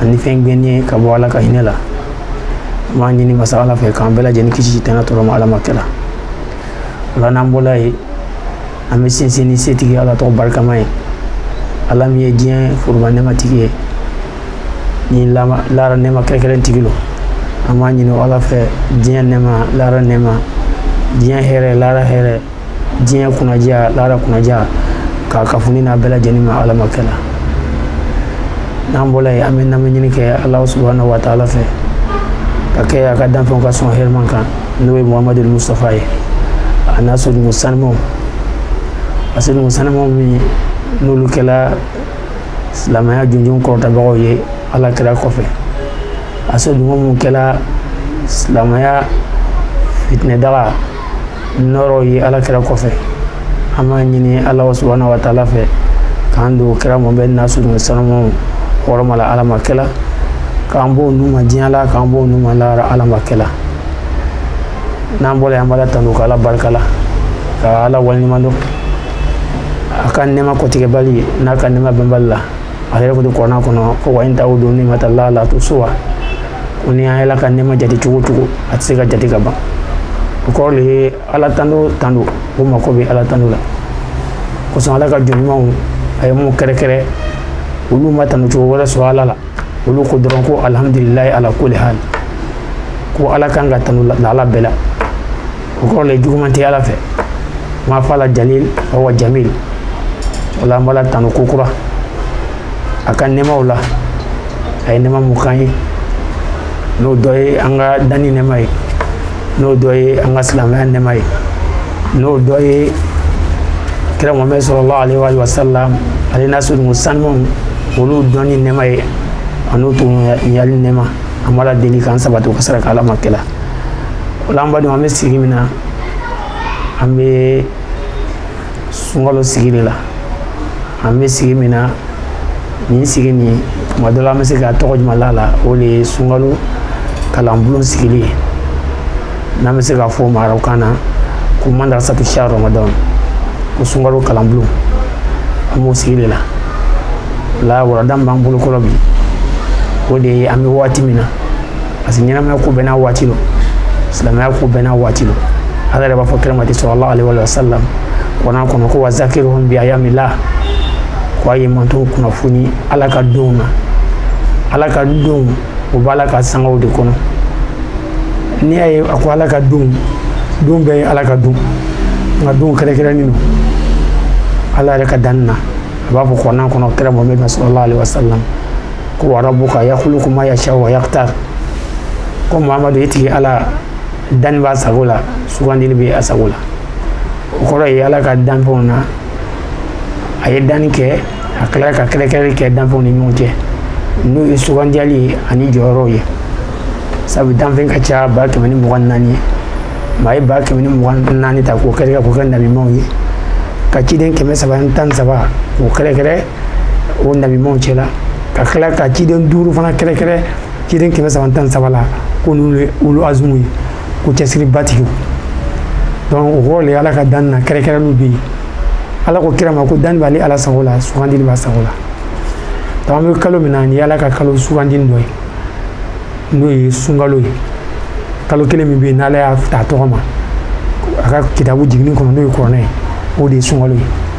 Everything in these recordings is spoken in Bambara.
ani fɛn gɛn ye ka bɔ ala ka hinɛ la an b'a ɲini masa ala fɛ k'an bɛɛ lajɛlen kisi sitanɛ tɔɔrɔ ma ala ma kɛla o la n'an bɔla yen an bɛ sinsin ni setigi ala tɔgɔ barikama ye ala min ye diɲɛ foroba nɛmatigi ye ni lahara nɛma kɛrɛkɛrɛn tigi lo an b'a ɲini ala fɛ diɲɛ nɛma lahara nɛma diɲɛ hɛrɛ lahara hɛrɛ diɲɛ kunnandiya lahara kunnandiya ka kafuni n'a bɛɛ lajɛlen ma ala ma kɛ la n'an bɔla yen an bɛ nɛma ɲini kɛ ala subahana wa taala fɛ ka kɛ a ka danfɛnw ka sɔn hɛrɛman kan n'o ye muhamadu mustafa ye a n'a soden sanimaw a soden sanimaw min n'olu kɛla silamɛya jɔnjɔn kɔrɔtabagaw ye ala kira kɔfɛ a soden minnu kɛla silamɛya fitinɛdaga nɔɔrɔ ye ala kira kɔfɛ an b'a ɲini ala subahana wa taala fɛ k'an don kira mohamɛd n'a soden sanumaw hɔrɔma la ala ma kɛla k'an b'o nun ma diɲɛ la k'an b'o nun ma lahara ala ma kɛla n'an bɔra yen an b'ala tanu ka ala barika la ka ala waleɲuman dɔn a ka nɛɛma kɔtigɛbali n'a ka nɛɛma banbali la a yɛrɛ ko de kurana kɔnɔ ko wa in taudu niimata lahi la tuhusuha ko ni aw y'ala ka nɛma jate cogo cogo a tɛ se ka jate ka ban o kɔrɔ de ye ala tando tando o mako bɛ ala tando la kosɔn ala ka jɔn ɲumanw a ye minnu kɛrɛnkɛrɛn olu ma tando cogo wɛrɛ sɔrɔ ala la olu ko dɔrɔn ko alihamudulilayi ala kuli hali ko ala kan ka tanu lahala bɛɛ la o kɔrɔ le juguman tɛ ala fɛ n b'a fɔ ala jalil awa jamil o la an b'ala tanu ko kura a ka nɛmaw la a ye nɛma min k'an ye n'o dɔ ye an ka danni nɛma ye n'o dɔ ye an ka silamɛya nɛma ye n'o dɔ ye kira muhammed salalahu alaihi wa alihi wa sallam ale n'a soden sanumaw olu dɔnni nɛma ye an'u tun yali nɛma an b'ala deli k'an sabati u ka sira kan ala ma kɛla o la an badenw an bɛ sigi min na an bɛ sunkalo sigi de la an bɛ sigi min na nin sigi nin tuma dɔ la an bɛ se ka tɔgɔ jumɛn la a la o de ye sunkalo kalanbulon sigili ye n'an bɛ se k'a fɔ arabukan na ko madarasatu sahari ramadan ko sunkalo kalanbulon an b'o sigi de la o la walanda min b'an bolo kɔrɔ bi o de ye an bɛ waati min na parce que ɲɛnamaya ko bɛɛ n'a waati lo silamɛya ko bɛɛ n'a waati lo ala yɛrɛ b'a fɔ kira mati salalahu alaihi wa alihi wa sallam kurana kɔnɔ ko wa zakirihum bi ayamila ko a ye mantonw kunnafoni ala ka donw na ala ka donw o b'ala ka sangaw de kɔnɔ n'i y'a ye a ko ala ka donw don bɛɛ ye ala ka don nka don kɛrɛkɛrɛnnen don ala yɛrɛ ka danni na a b'a fɔ kurana kɔnɔ kira mohamɛd ma salalahu alaihi wa sallam ko warabuka yakuluku ma ya sha wa yaktar ko mamadu i tigi ala danni b'a sago la sugandili bɛ a sago la o kɔrɔ ye ala ka danfɛnw na a ye danni kɛ a tilara ka kɛrɛkɛrɛli kɛ danfɛnw ni ɲɔgɔn cɛ n'o ye sugandiyali ani jɔyɔrɔw ye sabu danfɛn ka ca ba kɛmɛ ni mugan naani ye mɛ a ye ba kɛmɛ ni mugan naani ta k'o kɛrɛkɛrɛ k'o kɛ nabimaw ye ka ciden kɛmɛ saba ni tan ni saba k'o kɛrɛkɛrɛ o nabimaw cɛla ka tila ka ciden duuru fana kɛrɛkɛrɛ ciden kɛmɛ saba tan saba la ko n'olu ye ulul azumu ye ko cɛsiribatigiw donc o kɔrɔ le ala ka danni na kɛrɛkɛrɛliw bɛ yen ala ko kira ma ko danni b'ale ala sago la sugandili b'a sago la donc an bɛ kalo min na nin ye ala ka kalo sugandili dɔ ye n'o ye sunkalo ye kalo kelen min bɛ yen n'ala y'a ta tɔgɔ ma a ka kitabu jiginnen kɔnɔ n'o ye kuranɛ ye o de ye sunkalo ye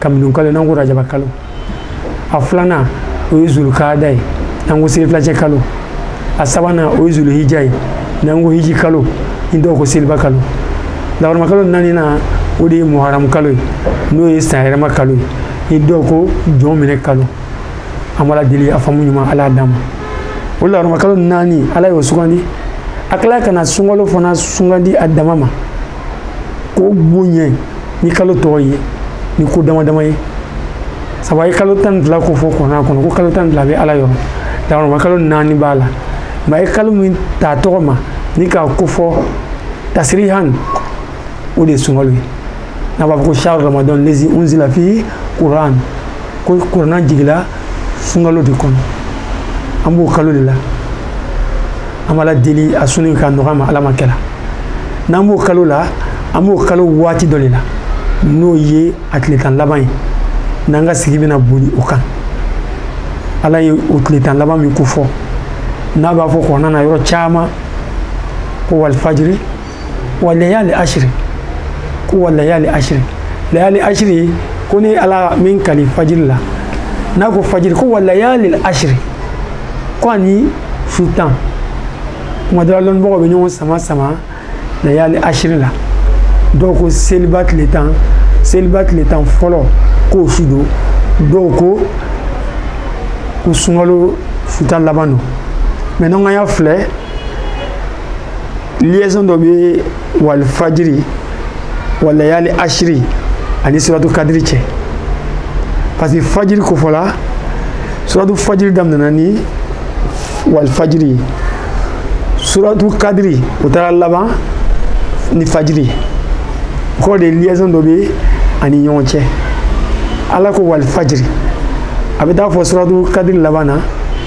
kabini kalo n'an ko rajaba kalo a filanan o ye zulukada ye n'an ko selifilacɛ kalo a sabanan o ye zuluhija ye n'an ko hiji kalo ni dɔw ko seliba kalo lahɔrɔma kalo naaninan o de ye muharamu kalo ye n'o ye sanyɛlɛma kalo ye ni dɔw ko jɔnminɛ kalo an b'ala deli a faamu ɲuman ala d'an ma o lahɔrɔma kalo naani ala y'o sugandi a tila ka na sunkalo fana sugandi a dama ma k'o bonya ni kalo tɔw ye ni ko damadama ye sabu a ye kalo tan ni fila ko fɔ kuranɛ kɔnɔ ko kalo tan ni fila bɛ ala yɔrɔ lahɔrɔma kalo naani b'a la mɛ a ye kalo min ta tɔgɔ ma ni k'a ko fɔ tasirihan o de ye sunkalo ye n'a b'a fɔ ko shahru ramadan lezi unzila fi kuran ko kuranɛ jigila sunkalo de kɔnɔ an b'o kalo de la an b'ala deli a sun ka nɔgɔya an ma ala m'a kɛra n'an b'o kalo la an b'o kalo waati dɔ de la n'o ye a tile tan laban ye n'an ka sigi bɛna boli o kan ala ye o tile tan laban min ko fɔ n'a b'a fɔ kuranɛ na yɔrɔ caman ko walifajiri walayali asiri ko walayali asiri layali asiri ko ne ala bɛ n kali fajiri la n'a ko fajiri ko walayali asiri ko ani su tan kuma dɔ la lɔnnibagaw bɛ ɲɔgɔn samasama layali asiri la dɔw ko seliba tile tan seliba tile tan fɔlɔ k'o su don dɔw ko ko sunkalo su tan laban don mɛ n'an ka y'a filɛ liaison dɔ bɛ walifajiri walayali ashiri ani suratu kadiri cɛ parce que fajiri kofɔla suratu fajiri daminɛna ni walifajiri suratu kadiri o taara laban ni fajiri ko de liaison dɔ bɛ a ni ɲɔgɔn cɛ ala ko walifajiri a bɛ taa fɔ suratu kadiri laban na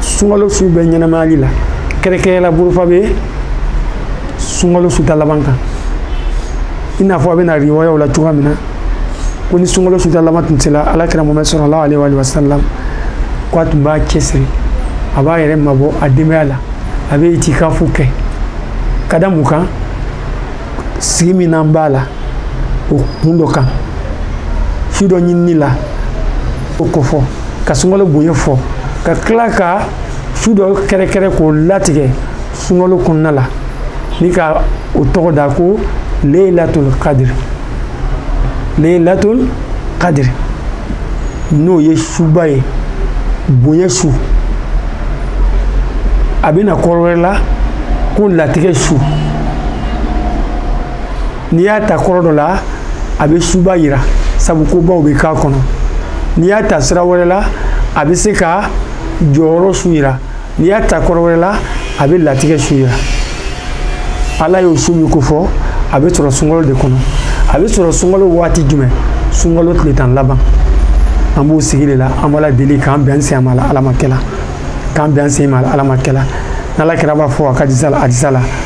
sunkalo su bɛɛ ɲɛnamayali la kɛrɛkɛrɛla bolofa bɛ sunkalo su tan laban kan i n'a fɔ a bɛ na riwayaw la cogoya min na ko ni sunkalo su tan laban tun sera ala kira mamadu sallallahu alaihi wa sallam ko a tun b'a cɛsiri a b'a yɛrɛ mabɔ a denbaya la a bɛ itikafu kɛ ka da mun kan sigi min n'an b'a la o kun dɔ kan su dɔ ɲinini la o kofɔ ka sunkalo bonya fɔ ka tila ka su dɔ kɛrɛkɛrɛ k'o latigɛ sunkalo kɔnɔna la ni ka o tɔgɔ da ko leilatul kadir leilatul kadir n'o ye suba ye bonya su a bɛ na kɔrɔ wɛrɛ la ko latigɛ su n'i y'a ta kɔrɔ dɔ la a bɛ suba yira sabu kobaw bɛ k'a kɔnɔ n'i y'a ta sira wɛrɛ la a bɛ se ka jɔyɔrɔ su yira n'i y'a ta kɔrɔ wɛrɛ la a bɛ latigɛ su yira ala y'o su min kofɔ a bɛ sɔrɔ sunkalo de kɔnɔ a bɛ sɔrɔ sunkalo waati jumɛn sunkalo tile tan laban an b'o sigi de la an b'ala deli k'an bɛn sen ma la ala ma kɛla k'an bɛn sen ma la ala ma kɛla n'ala kira b'a fɔ a ka hadisa la hadisa la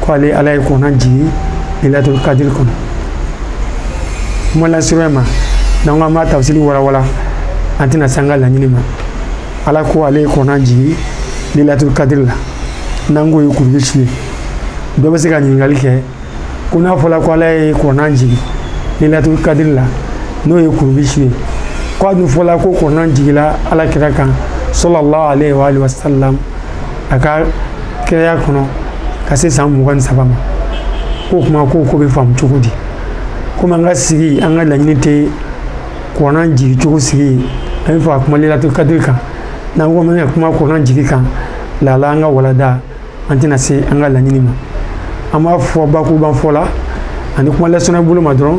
ko ale ala ye kurana jigi lailatul kadiri kɔnɔ kuma lasurunya ma n'an ko an b'a tafsiri walawala an tɛna se an ka laɲini ma ala ko ale ye kurana jigi lailatul kadiri la n'an k'o ye kurubi su ye dɔ bɛ se ka ɲininkali kɛ ko n'a fɔla ko ala ye kurana jigi lailatul kadiri la n'o ye kurubi su ye ko a dun fɔla ko kurana jigila ala kira kan sallallahu alaihi wa sallam a ka kiraya kɔnɔ ka se san mugan ni saba ma k'o kuma k'o ko bɛ faamu cogo di komi an ka sigi an ka laɲini tɛ kurana jigi cogo sigi an b'a fɛ ka kuma lailatul kadiri kan n'an ko an ka kuma kurana jigi kan laala an ka walada an tɛna se an ka laɲini ma an b'a fɔ bakurubafɔ la ani kuma lasurunya bolo ma dɔrɔn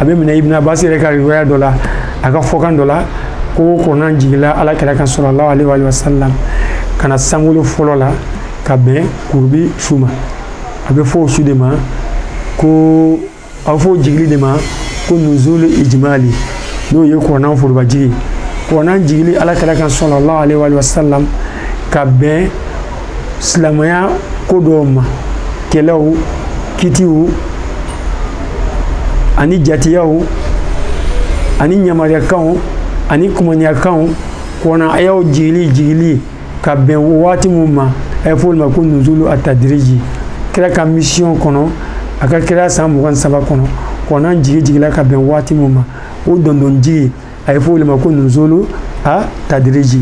a bɛ minɛ ibn abbas yɛrɛ ka riwaya dɔ la a ka fɔkan dɔ la ko kurana jigila ala kira kan sallallahu alaihi wa sallam ka na sankolo fɔlɔ la ka bɛn kurubi su ma a bɛ fɔ o su de ma ko a bɛ fɔ o jigili de ma ko nuzul ijimali n'o ye kurana foroba jigi kurana jigili ala kira kan sallallahu alaihi wa sallam ka bɛn silamɛya ko dɔw ma kɛlɛw kitiw ani jatiyaw ani ɲamariyakanw ani kumaniyakanw kurana ayaw jigili jigili ka bɛn waati minw ma a ye fɔ olu ma ko nuzulu atadiriji kira ka misiyɔn kɔnɔ a ka kira san mugan ni saba kɔnɔ kurana jigi jigila ka bɛn waati min ma o dɔɔnin dɔɔnin jigi a ye fɔ o le ma ko nuzulu a tadiriji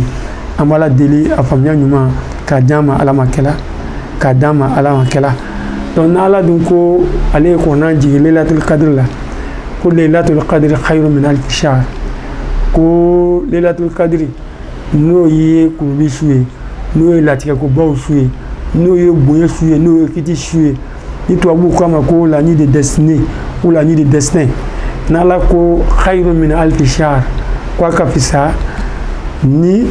an b'ala deli a faamuya ɲuman k'a d'an ma ala ma kɛla k'a d'an ma ala ma kɛla donc n'ala dun ko ale ye kurana jigin lelatul kadiri la ko lelatul kadiri khayru min alfi shahr ko lelatul kadiri n'o ye kurubi su ye n'o ye latigɛkobaw su ye n'o ye bonya su ye n'o ye kiti su ye ni tubabuw k'a ma ko la nuit de destinée ou la nuit de destin n'ala ko khayru min alfi shahr ko a ka fisa ni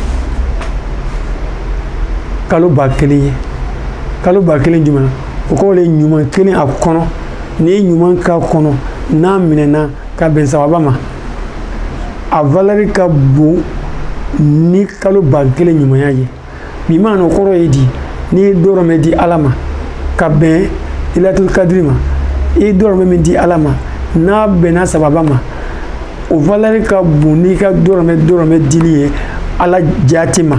kalo ba kelen ye kalo ba kelen jumɛn o kɔrɔ le ɲuman kelen a kɔnɔ n'i ye ɲuman k'a kɔnɔ n'a minɛna ka bɛn sawaba ma a valɛri ka bon ni kalo ba kelen ɲumanya ye bimaana o kɔrɔ ye di n'i ye dɔrɔmɛ di ala ma ka bɛn lelatul kadiri ma i ye dɔrɔmɛ min di ala ma n'a bɛnna sawaba ma o valɛri ka bon n'i ka dɔrɔmɛ dɔrɔmɛ dili ye ala jati ma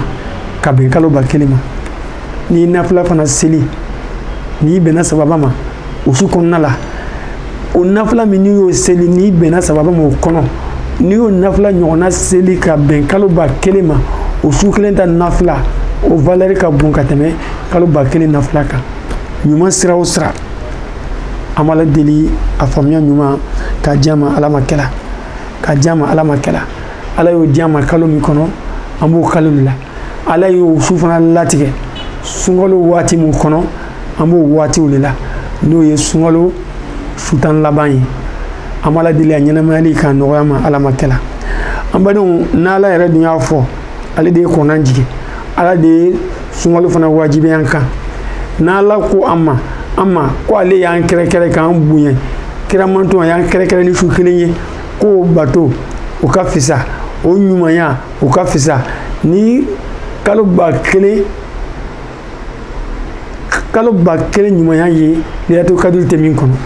ka bɛn kalo ba kelen ma n'i nafila fana seli n'i bɛnna sawaba ma o su kɔnɔna la o nafila min n'i y'o seli n'i bɛnna sawaba ma o kɔnɔ n'i y'o nafila ɲɔgɔnna seli ka bɛn kalo ba kelen ma o su kelen ta nafila o valɛri ka bon ka tɛmɛ kalo ba kelen nafila kan ɲuman sira o sira an b'ala deli a faamuya ɲuman k'a di an ma ala ma kɛla k'a di an ma ala ma kɛla ala y'o di an ma kalo min kɔnɔ an b'o kalo le la ala y'o su fana latigɛ sunkalo waati min kɔnɔ an b'o waati le la n'o ye sunkalo su tan laban ye an b'ala deli a ɲɛnamayali k'a nɔgɔya an ma ala ma kɛla an badenw n'ala yɛrɛ dun y'a fɔ ale de ye kurana jigin ala de ye sunkalo fana wajibi an kan n'ala ko an ma an ma ko ale y'an kɛrɛkɛrɛ k'an bonya karamatan y'an kɛrɛkɛrɛ ni su kelen ye k'o bato o ka fisa o ɲumanya o ka fisa ni kalo ba kelen kalo ba kelen ɲumanya ye lelatul kadiri tɛ min kɔnɔ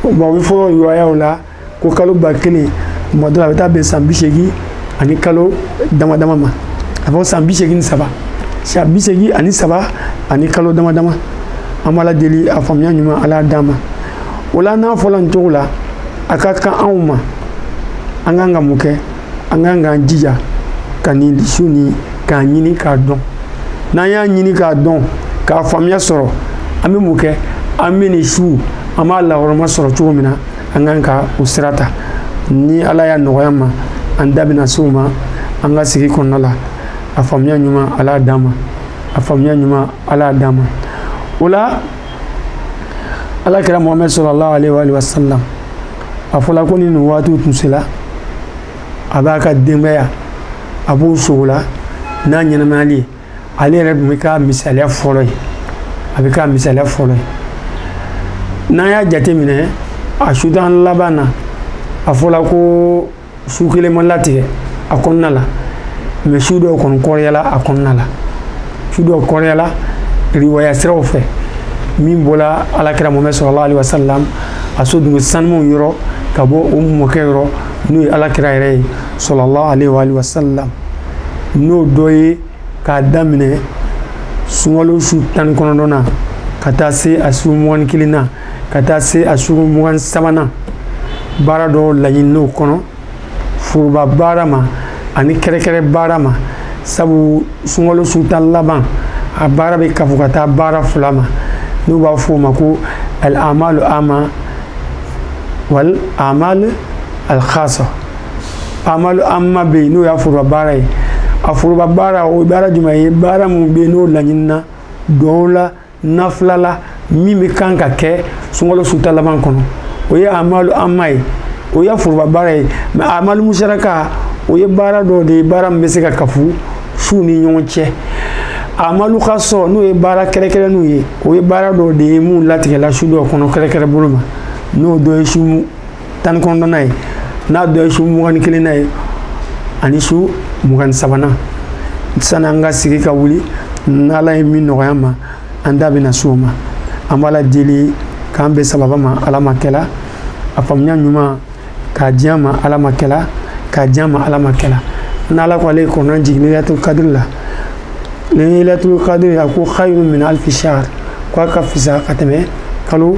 bon u b'a fɔ riwayaw la ko kalo ba kelen tuma dɔ la a bɛ taa bɛn san bi seegin ani kalo dama dama ma a fɔ san bi seegin ni saba san bi seegin ani saba ani kalo dama dama an b'ala deli a faamuya ɲuman ala d'an ma o la n'a fɔla nin cogo la a ka kan anw ma an kan ka mun kɛ an kan k'an jija ka nin su nin k'a ɲini k'a dɔn n'an y'a ɲini k'a dɔn k'a faamuya sɔrɔ an bɛ mun kɛ an bɛ nin su an b'a lahɔrɔma sɔrɔ cogo min na an kan ka o sira ta ni ala y'a nɔgɔya an ma an da bɛna se o ma an ka sigi kɔnɔna la a faamuya ɲuman ala y'a d'an ma a faamuya ɲuman ala y'a d'an ma o la ala kira mohamɛd sallallahu aleyhi wa sallam a fɔla ko ni nin waatiw tun sela a b'a ka denbaya a b'o sogo la n'a ɲɛnamayali ye ale yɛrɛ tun bɛ k'a misaliya fɔlɔ ye a bɛ k'a misaliya fɔlɔ ye n'an y'a jateminɛ a su tan laban na a fɔla ko su kelen ma latigɛ a kɔnɔna la mɛ su dɔw kɔni kɔrɔyala a kɔnɔna la su dɔw kɔrɔyala riwaya siraw fɛ min bɔla alakira muhamɛdi salalahu alayhi wasalam a somɔgɔ sanumanw yɔrɔ ka bɔ o mɔkɛ yɔrɔ n'o ye alakira yɛrɛ ye salalahu alayhi wa alihi wasalam n'o dɔ ye k'a daminɛ sunkalo su tan ni kɔnɔntɔnna ka taa se a su mugan ni kelen na ka taa se a su mugan sabanan baara dɔw laɲinina u kɔnɔ foroba baara ma ani kɛrɛkɛrɛ baara ma sabu sunkalo su tan laban a baara bɛ kafo ka taa baara fila ma n'u b'a fɔ o ma ko al amalu amma wal amal al khasa amalu amma bɛ yen n'o y'a foroba baara ye a foroba baara o ye baara jumɛn ye baara min bɛ yen n'o laɲinina dɔw la nafila la min bɛ kan ka kɛ sunkalo su tan laban kɔnɔ o ye amalu amma ye o ye foroba baara ye mɛ amalu musaraka o ye baara dɔ de ye baara min bɛ se ka kafu suw ni ɲɔgɔn cɛ amalu khasa n'o ye baara kɛrɛkɛrɛnniw ye o ye baara dɔ de ye min latigɛla su dɔ kɔnɔ kɛrɛkɛrɛ bolo ma n'o dɔ ye su tan ni kɔnɔntɔnna ye n'a dɔ ye su mugan ni kelenna ye ani su mugan ni sabanan sani an ka sigi ka wuli n'ala ye min nɔgɔya an ma an da bɛna s'o ma an b'ala deli k'an bɛn sawaba ma ala ma kɛla a faamuya ɲuman k'a di an ma ala ma kɛla k'a di an ma ala ma kɛla n'ala ko ale ye kurana jigin lailatul kadiri la ni lailatul kadiri a ko khayru min alfi shahr ko a ka fisa ka tɛmɛ kalo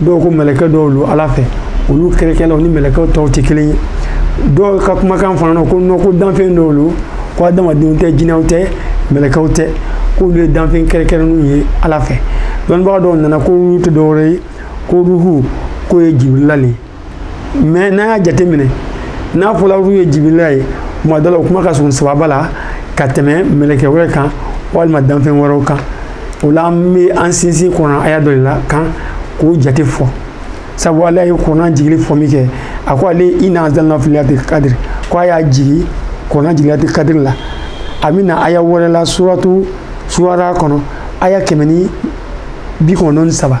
dɔw ko mɛlɛkɛ dɔw don ala fɛ olu kɛrɛkɛlaw ni mɛlɛkɛw tɔw tɛ kelen ye dɔw ka kumakan fana na ko nɔ ko danfɛn dɔw don ko adamadenw tɛ jinɛw tɛ mɛlɛkɛw tɛ k'olu ye danfɛn kɛrɛkɛrɛnninw ye ala fɛ dɔnnibaga dɔw nana ko ruhu tɛ dɔwɛrɛ ye ko ruhu k'o ye jibirila le ye mɛ n'an y'a jateminɛ n'a fɔla ruhu ye jibirila ye tuma dɔ la o kuma ka surun sawaba la ka tɛmɛ mɛlɛkɛ wɛrɛ kan walima danfɛn wɛrɛw kan o la an bɛ an sinsin kurana aya dɔ de la kan k'o jate fɔ sabu ala ye kurana jigili fɔ min kɛ a ko ale inna anzalina fi lailati kadiri ko a y'a jigi kurana jigi lailati kadiri la a bɛ na aya wɛrɛ la suratu suwara kɔnɔ aya kɛmɛ ni bi kɔnɔntɔn ni saba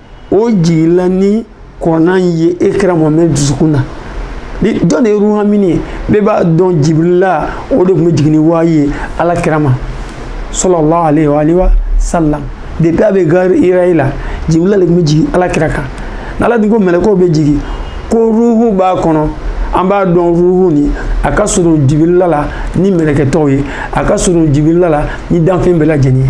o jigila ni kuranɛ in ye e kira mohamɛd dusukun na jɔn de ye ruhu amini ye bɛɛ b'a dɔn jibirila o de tun bɛ jigin ni wayi ye ala kira ma salalahu aleyi wa ale wa salam depuis a bɛ gari hirayi la jibirila de tun bɛ jigin ala kira kan n'ala dun ko mɛlɛkɛw bɛ jigin ko ruhu b'a kɔnɔ an b'a dɔn ruhu nin a ka surun jibirila la ni mɛlɛkɛ tɔw ye a ka surun jibirila la ni danfɛn bɛɛ lajɛlen ye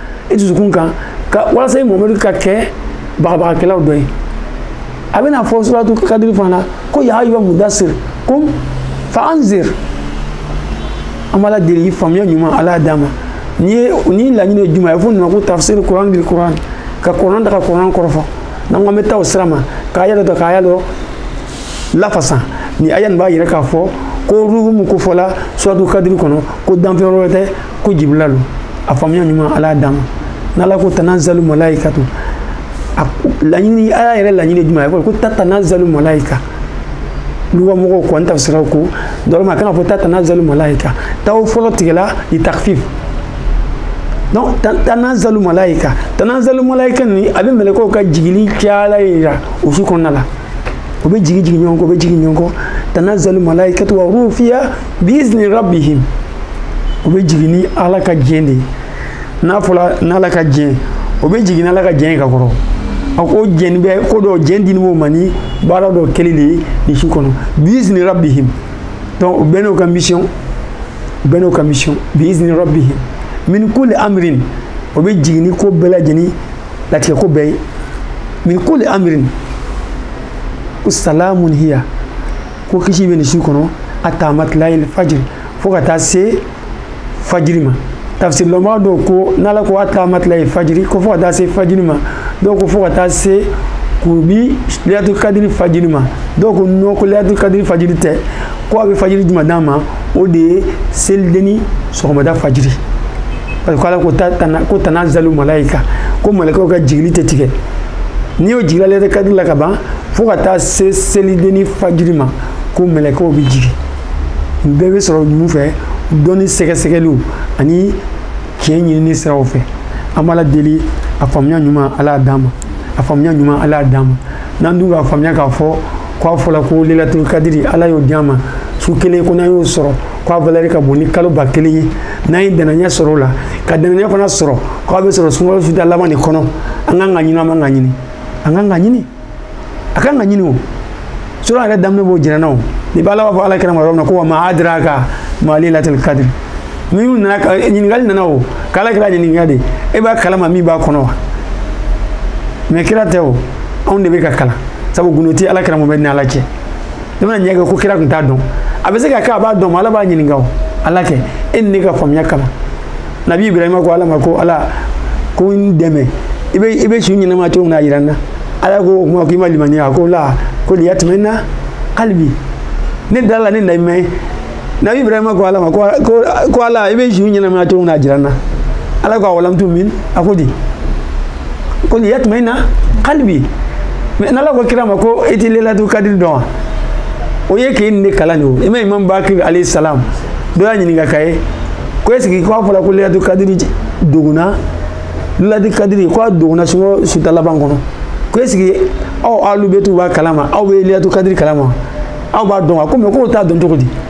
i dusukun kan ka walasa i mamadu ka kɛ bagabagakɛlaw dɔ ye a bɛna fɔ suratu kadiri fana na ko ya ayuha mudasir kum fa anzir an b'ala deli a faamuya ɲuman ala y'a d'an ma n'i ye nin laɲini ye jumɛn ye fo nana ko tafsir kuran bil kuran ka kuran ta ka kuran kɔrɔfɔ n'an ko an bɛ taa o sira ma k'a yɛrɛ dɔn k'a y'a dɔn lafasa ni aya nin b'a yɛrɛ k'a fɔ ko ruhu min ko fɔla suratu kadiri kɔnɔ ko danfɛn wɛrɛ tɛ ko jibirila lo a faamuya ɲuman ala y'a d'an ma n'ala ko tanazalu malaikatu a laɲini ala yɛrɛ laɲini jumɛn a bɛ fɔ ko tatanazalu malaika luga mɔgɔw kɔni tafsiraw ko dɔrɔma a kana fɔ tatanazalu malaika ta fɔlɔ tigɛla li takfif donc tanazalu malaika tanazalu malaika nin a bɛ mɛlɛkɛw ka jigili caya le yira o su kɔnɔna la u bɛ jigi jigin ɲɔgɔn kɔ u bɛ jigin ɲɔgɔn kɔ tanazalu malaikatu wa ruhu fiha biizni rabbihim u bɛ jigin ni ala ka diɲɛ de ye n'a fɔra n'ala ka diɲɛ o bɛ jigin n'ala ka diɲɛ ye ka kɔrɔ a ko jɛni bɛ ko dɔ jɛn dilen b'o ma ni baara dɔ kɛli de ye nin su kɔnɔ biizni rabbihim donc u bɛɛ n'o ka mission u bɛɛ n'o ka mission biizni rabbihim min kulli amrin o bɛ jigin ni ko bɛɛ lajɛlen latigɛ ko bɛɛ ye min kulli amirin ko salamun hiya ko kisi bɛ nin su kɔnɔ hata matilayil fajiri fo ka taa se fajiri ma tafsirilɔnbaa dɔw ko n'ala ko hata matilayil fajiri ko fo ka taa se fajiri ma dɔw ko fo ka taa se ko bi lelatul kadiri fajiri ma dɔw ko non ko lelatul kadiri fajiri tɛ ko a bɛ fajiri jumɛn de ma o de ye selidenni sɔgɔmada fajiri parce que ala ko tana ko tanazalu malaika ko mɛlɛkɛw ka jigili tɛ tigɛ n'i y'o jigila lelatul kadiri la ka ban fo ka taa se selideni fajiri ma ko mɛlɛkɛw bɛ jigin nin bɛɛ bɛ sɔrɔ mun fɛ dɔnni sɛgɛsɛgɛliw ani tiɲɛ ɲinini siraw fɛ an b'ala deli a faamuya ɲuman ala y'a d'an ma a faamuya ɲuman ala y'a d'an ma n'an dun k'a faamuya k'a fɔ k'a fɔla ko lelatul kadiri ala y'o di an ma su kelen ko n'an y'o sɔrɔ k'a valɛri ka bon ni kalo ba kelen ye n'an ye dannaya sɔrɔ o la ka dannaya fana sɔrɔ k'a bɛ sɔrɔ sunkalo su tan laban de kɔnɔ an kan ka ɲini an man ka ɲini an kan ka ɲini a kan ka ɲini o sura yɛrɛ daminɛ b'o jɛnɛna o ni bɛ ala b'a fɔ ala kira ma yɔrɔ min na ko wa ma adiraka ma lelatul kadiri min nana ka ɲininkali nana o k'ala kira ɲininka de e b'a kalama min b'a kɔnɔ wa mɛ kira tɛ o anw de bɛ ka kalan sabu gundo tɛ ala kira mɔmɛdi ni ala cɛ i bɛna ɲɛ kɛ ko kira tun t'a dɔn a bɛ se ka kɛ a b'a dɔn mɛ ala b'a ɲininka o ala kɛ e ni ne ka faamuya kama nabi ibrahima ko ala ma ko ala ko n dɛmɛ i bɛ i bɛ su ɲɛnamaya cogo min na a jira n na ala ko o kuma k'i ma limaniya a ko la ko liyatuma ina kalibi ne da la ne na i mɛn nabi ibrahima ko ala ma ko ko ala i bɛ su ɲɛnamaya cogo min na a jira n na ala ko awalam tumin a ko di ko liyatuma ina kalibi mɛ n'ala ko kira ma ko i tɛ lelatu kadiri dɔn wa o ye k'e ni ne kalan de o i ma imam bakir alayhi salam dɔ y'a ɲininka ka ye ko ɛsike k'a fɔla ko lelatu kadiri dogola lelatu kadiri ko a dogola sunkalo su tan laban kɔnɔ ko ɛsike aw alubetu b'a kalama aw bɛ lelatu kadiri kalama aw b'a dɔn wa ko mɛ k'o t'a dɔn cogo di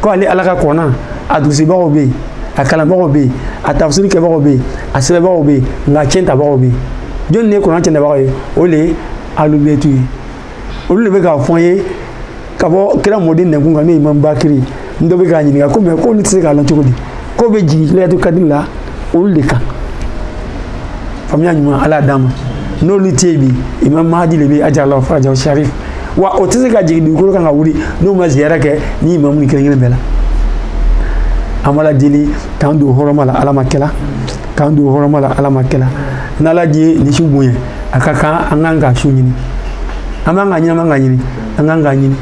ko ale ala ka kɔrana a durusibagaw bɛ yen a kalanbagaw bɛ yen a tafsiri kɛbagaw bɛ yen a sɛbɛbagaw bɛ yen nka cɛntabagaw bɛ yen jɔnni de ye kɔrana cɛntabagaw ye o de ye alubetu ye olu de bɛ k'a fɔ an ye ka bɔ kira mɔden nɛnkun kan n'o ye imam bakiri n dɔ bɛ k'a ɲininka ko mɛ k'olu tɛ se k'a lɔn cogo di k'o bɛ jigin layatu kadiri la olu de kan faamuya ɲuman ala y'a d'an ma n'olu tɛ yen bi imam mahadi de bɛ ajala farajahu sharif wa o tɛ se ka jigin dugukolo kan ka wuli n'o ma ziyara kɛ ni imamu ni kelen kelen bɛɛ la an b'ala deli k'an don hɔrɔma la ala m'a kɛla k'an don hɔrɔma la ala m'a kɛla n'ala ye nin su bonya a ka kan an kan ka su ɲini an b'an ka ɲini an b'an ka ɲini an kan k'a ɲini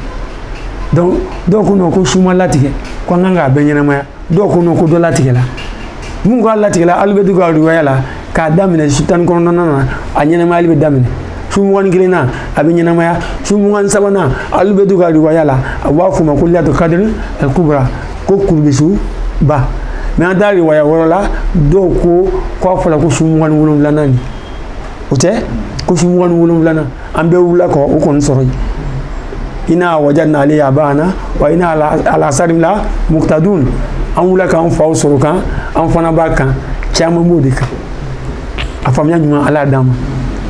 donc dɔw ko non ko su ma latigɛ ko an kan k'a bɛɛ ɲɛnamaya dɔw ko non ko dɔ latigɛla minnu k'a latigɛla alubetu ka riwaya la k'a daminɛ su tan ni kɔnɔntɔnnan na a ɲɛnamayali bɛ daminɛ su mugan ni kelennan a bɛ ɲɛnamaya su mugan ni sabanan alubetu ka riwaya la a b'a f'o ma ko lelatu kadiri al kubra ko kurubi su ba mɛ an taara riwaya wɛrɛ la dɔw ko k'a fɔra ko su mugan ni wolonwulanan nin o tɛ ko su mugan ni wolonwulanan an bɛɛ wulila k'o kɔni sɔrɔ yen ina wajadna alayha abana wa ina ala asarihim la muktadun an wulila k'an faw sɔrɔ o kan an fana b'a kan caman b'o de kan a faamuya ɲuman ala y'a d'an ma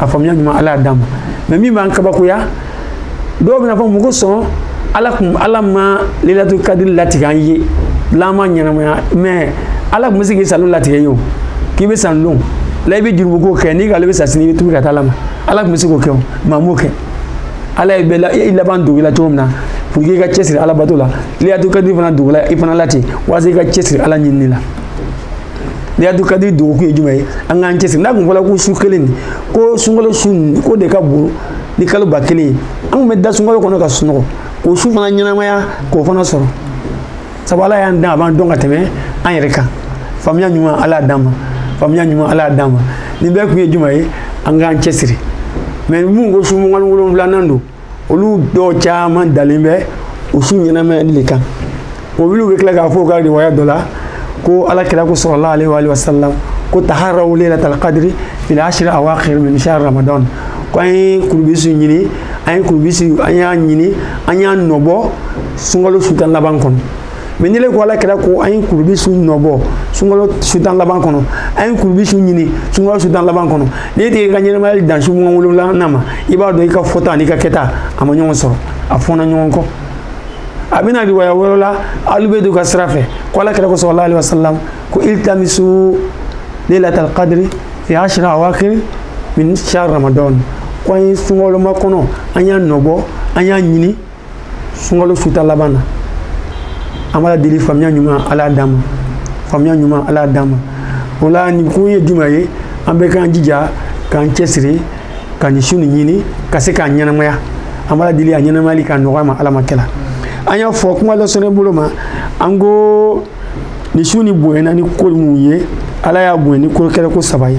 a faamuya ɲuman ala y'a d'an ma mɛ min b'an kabakoya dɔw bɛn'a fɔ mun kosɔn ala kun ala ma lelatu kadiri latigɛ an ye lama ɲɛnamaya mɛ ala tun bɛ se k'i salon latigɛ i ye o k'i bɛ san lon la i bɛ jurumu ko kɛ n'i k'ale bɛ sa sini i bɛ tubi ka taa ala ma ala tun bɛ se k'o kɛ mɛ a m'o kɛ ala ye bɛɛ la i laban dogo i la cogo min na pour que i ka cɛsiri ala bato la leyilatu kadiri fana dogola i fana la ten walasa i ka cɛsiri ala ɲinini la leyilatu kadiri dogokun ye jumɛn ye an k'an cɛsiri n'a tun fɔla ko su kelen nin ko sunkalo su nin k'o de ka bon ni kalo ba kelen ye an tun bɛ da sunkalo kɔnɔ ka sunɔgɔ k'o su fana ɲɛnamaya k'o fana sɔrɔ sabu ala y'an dan a b'an dɔn ka tɛmɛ an yɛrɛ kan faamuya ɲuman ala y'a d'an ma faamuya ɲuman ala y'a d'an ma nin bɛɛ kun ye jumɛn ye an k'an cɛsiri mɛ minnu ko su mugan ni wolonwulanan don olu dɔw caman dalen bɛ o su ɲɛnamayali de kan olu bɛ tila k'a fɔ u ka riwaya dɔ la ko ala kira ko sallallahu alayhi wa sallam ko taharaw lailatal qadri fil ashril awakhir min shahr ramadan ko an ye kurubi su ɲini an ye kurubi su an y'a ɲini an y'a nɔbɔ sunkalo su tan laban kɔnɔ mɛ n'i le ko ala kira ko an ye kurubi su nɔbɔ sunkalo su tan laban kɔnɔ an ye kurubi su ɲini sunkalo su tan laban kɔnɔ n'i tɛ i ka ɲɛnamaya dan su mugan wolonwulanan ma i b'a dɔn i ka fɔta an'i ka kɛta a ma ɲɔgɔn sɔrɔ a fɔnna ɲɔgɔn kɔ a bɛ na riwaya wɛrɛ la abu dawud ka sira fɛ ko ala kira ko sallallahu alayhi wa sallam ko iltamisu lailatal qadri fil ashril awakhir min shahr ramadan ko an ye sunkalo makɔnɔ an y'a nɔbɔ an y'a ɲini sunkalo su tan laban na an b'ala deli faamuya ɲuman ala y'a d'an ma faamuya ɲuman ala y'a d'an ma o la nin kun ye jumɛn ye an bɛɛ k'an jija k'an cɛsiri ka nin su nin ɲini ka se k'a ɲɛnamaya an b'a deli a ɲɛnamayali ka nɔgɔya an ma ala m'a kɛla an y'a fɔ kuma lasurunya bolo ma an ko nin su nin bonyana ni ko mun ye ala y'a bonya ni ko kɛra ko saba ye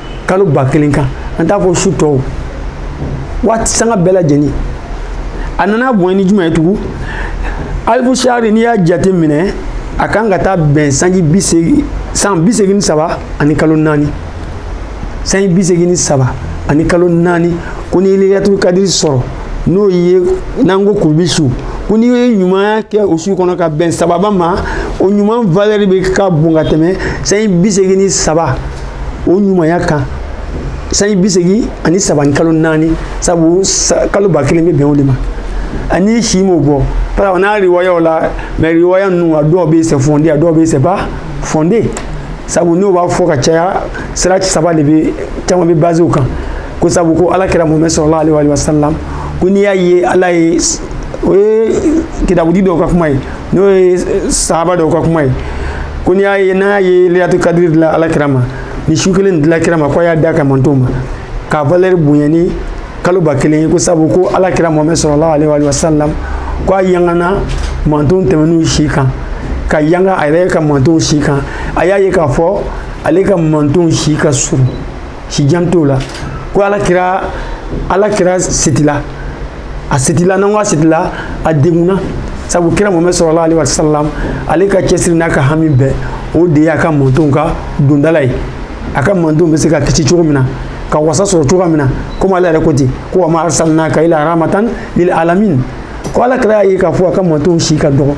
kalo ba kelen kan an t'a fɔ su tɔw waati sanga bɛɛ lajɛlen a nana bonya ni jumɛn ye tugun alfu shahri n'i y'a jateminɛ a kan ka taa bɛn sanji bi seegin san bi seegin ni saba ani kalo naani sanji bi seegin ni saba ani kalo naani ko n'i ye leyilatu kadiri sɔrɔ n'o ye n'an ko kurubi su ko n'i ye ɲumanya kɛ o su kɔnɔ ka bɛn sababa ma o ɲuman valɛri bɛɛ ka bon ka tɛmɛ sanji bi seegin ni saba o ɲumanya kan sanji bi seegin ani saba ni kalo naani sabu kalo ba kelen bɛ bɛn o de ma ani si m'o bɔ parce que n'a riwayaw la mɛ riwaya ninnu a dɔw bɛ c'est fondé a dɔw bɛ c'est pas fondé sabu n'u b'a fɔ ka caya sira saba de bɛ caman bɛ baze o kan ko sabu ko ala kira mohamɛd sallallahu alayhi wa sallam ko n'i y'a ye ala ye o ye kitabutigi dɔw ka kuma ye n'o ye sahaba dɔw ka kuma ye ko n'i y'a ye n'a ye leyilatu kadiri dila ala kira ma nin su kelen dila kira ma k'a y'a d'a ka mantonw ma k'a valɛri bonya ni kalo ba kelen ye ko sabu ko ala kira mohamɛd sallallahu alaihi wa sallam ko a yangana mantonw tɛmɛnenw si kan ka yanga a yɛrɛ ka mantonw si kan a y'a ye k'a fɔ ale ka mantonw si ka surun si jan t'o la ko ala kira ala kira setila a setila n'an ko a setila a degunna sabu kira mohamɛdi sallallahu alaihi wa sallam ale ka cɛsiri n'a ka hami bɛɛ o de y'a ka mantonw ka dondala ye a ka mantonw bɛ se ka kisi cogo min na ka wasa sɔrɔ cogoya min na komi ala yɛrɛ ko ten ko wa ma arsalnaka illa rahmatan lil alamin ko ala kira y'a ye k'a fɔ a ka mantonw si ka dɔgɔ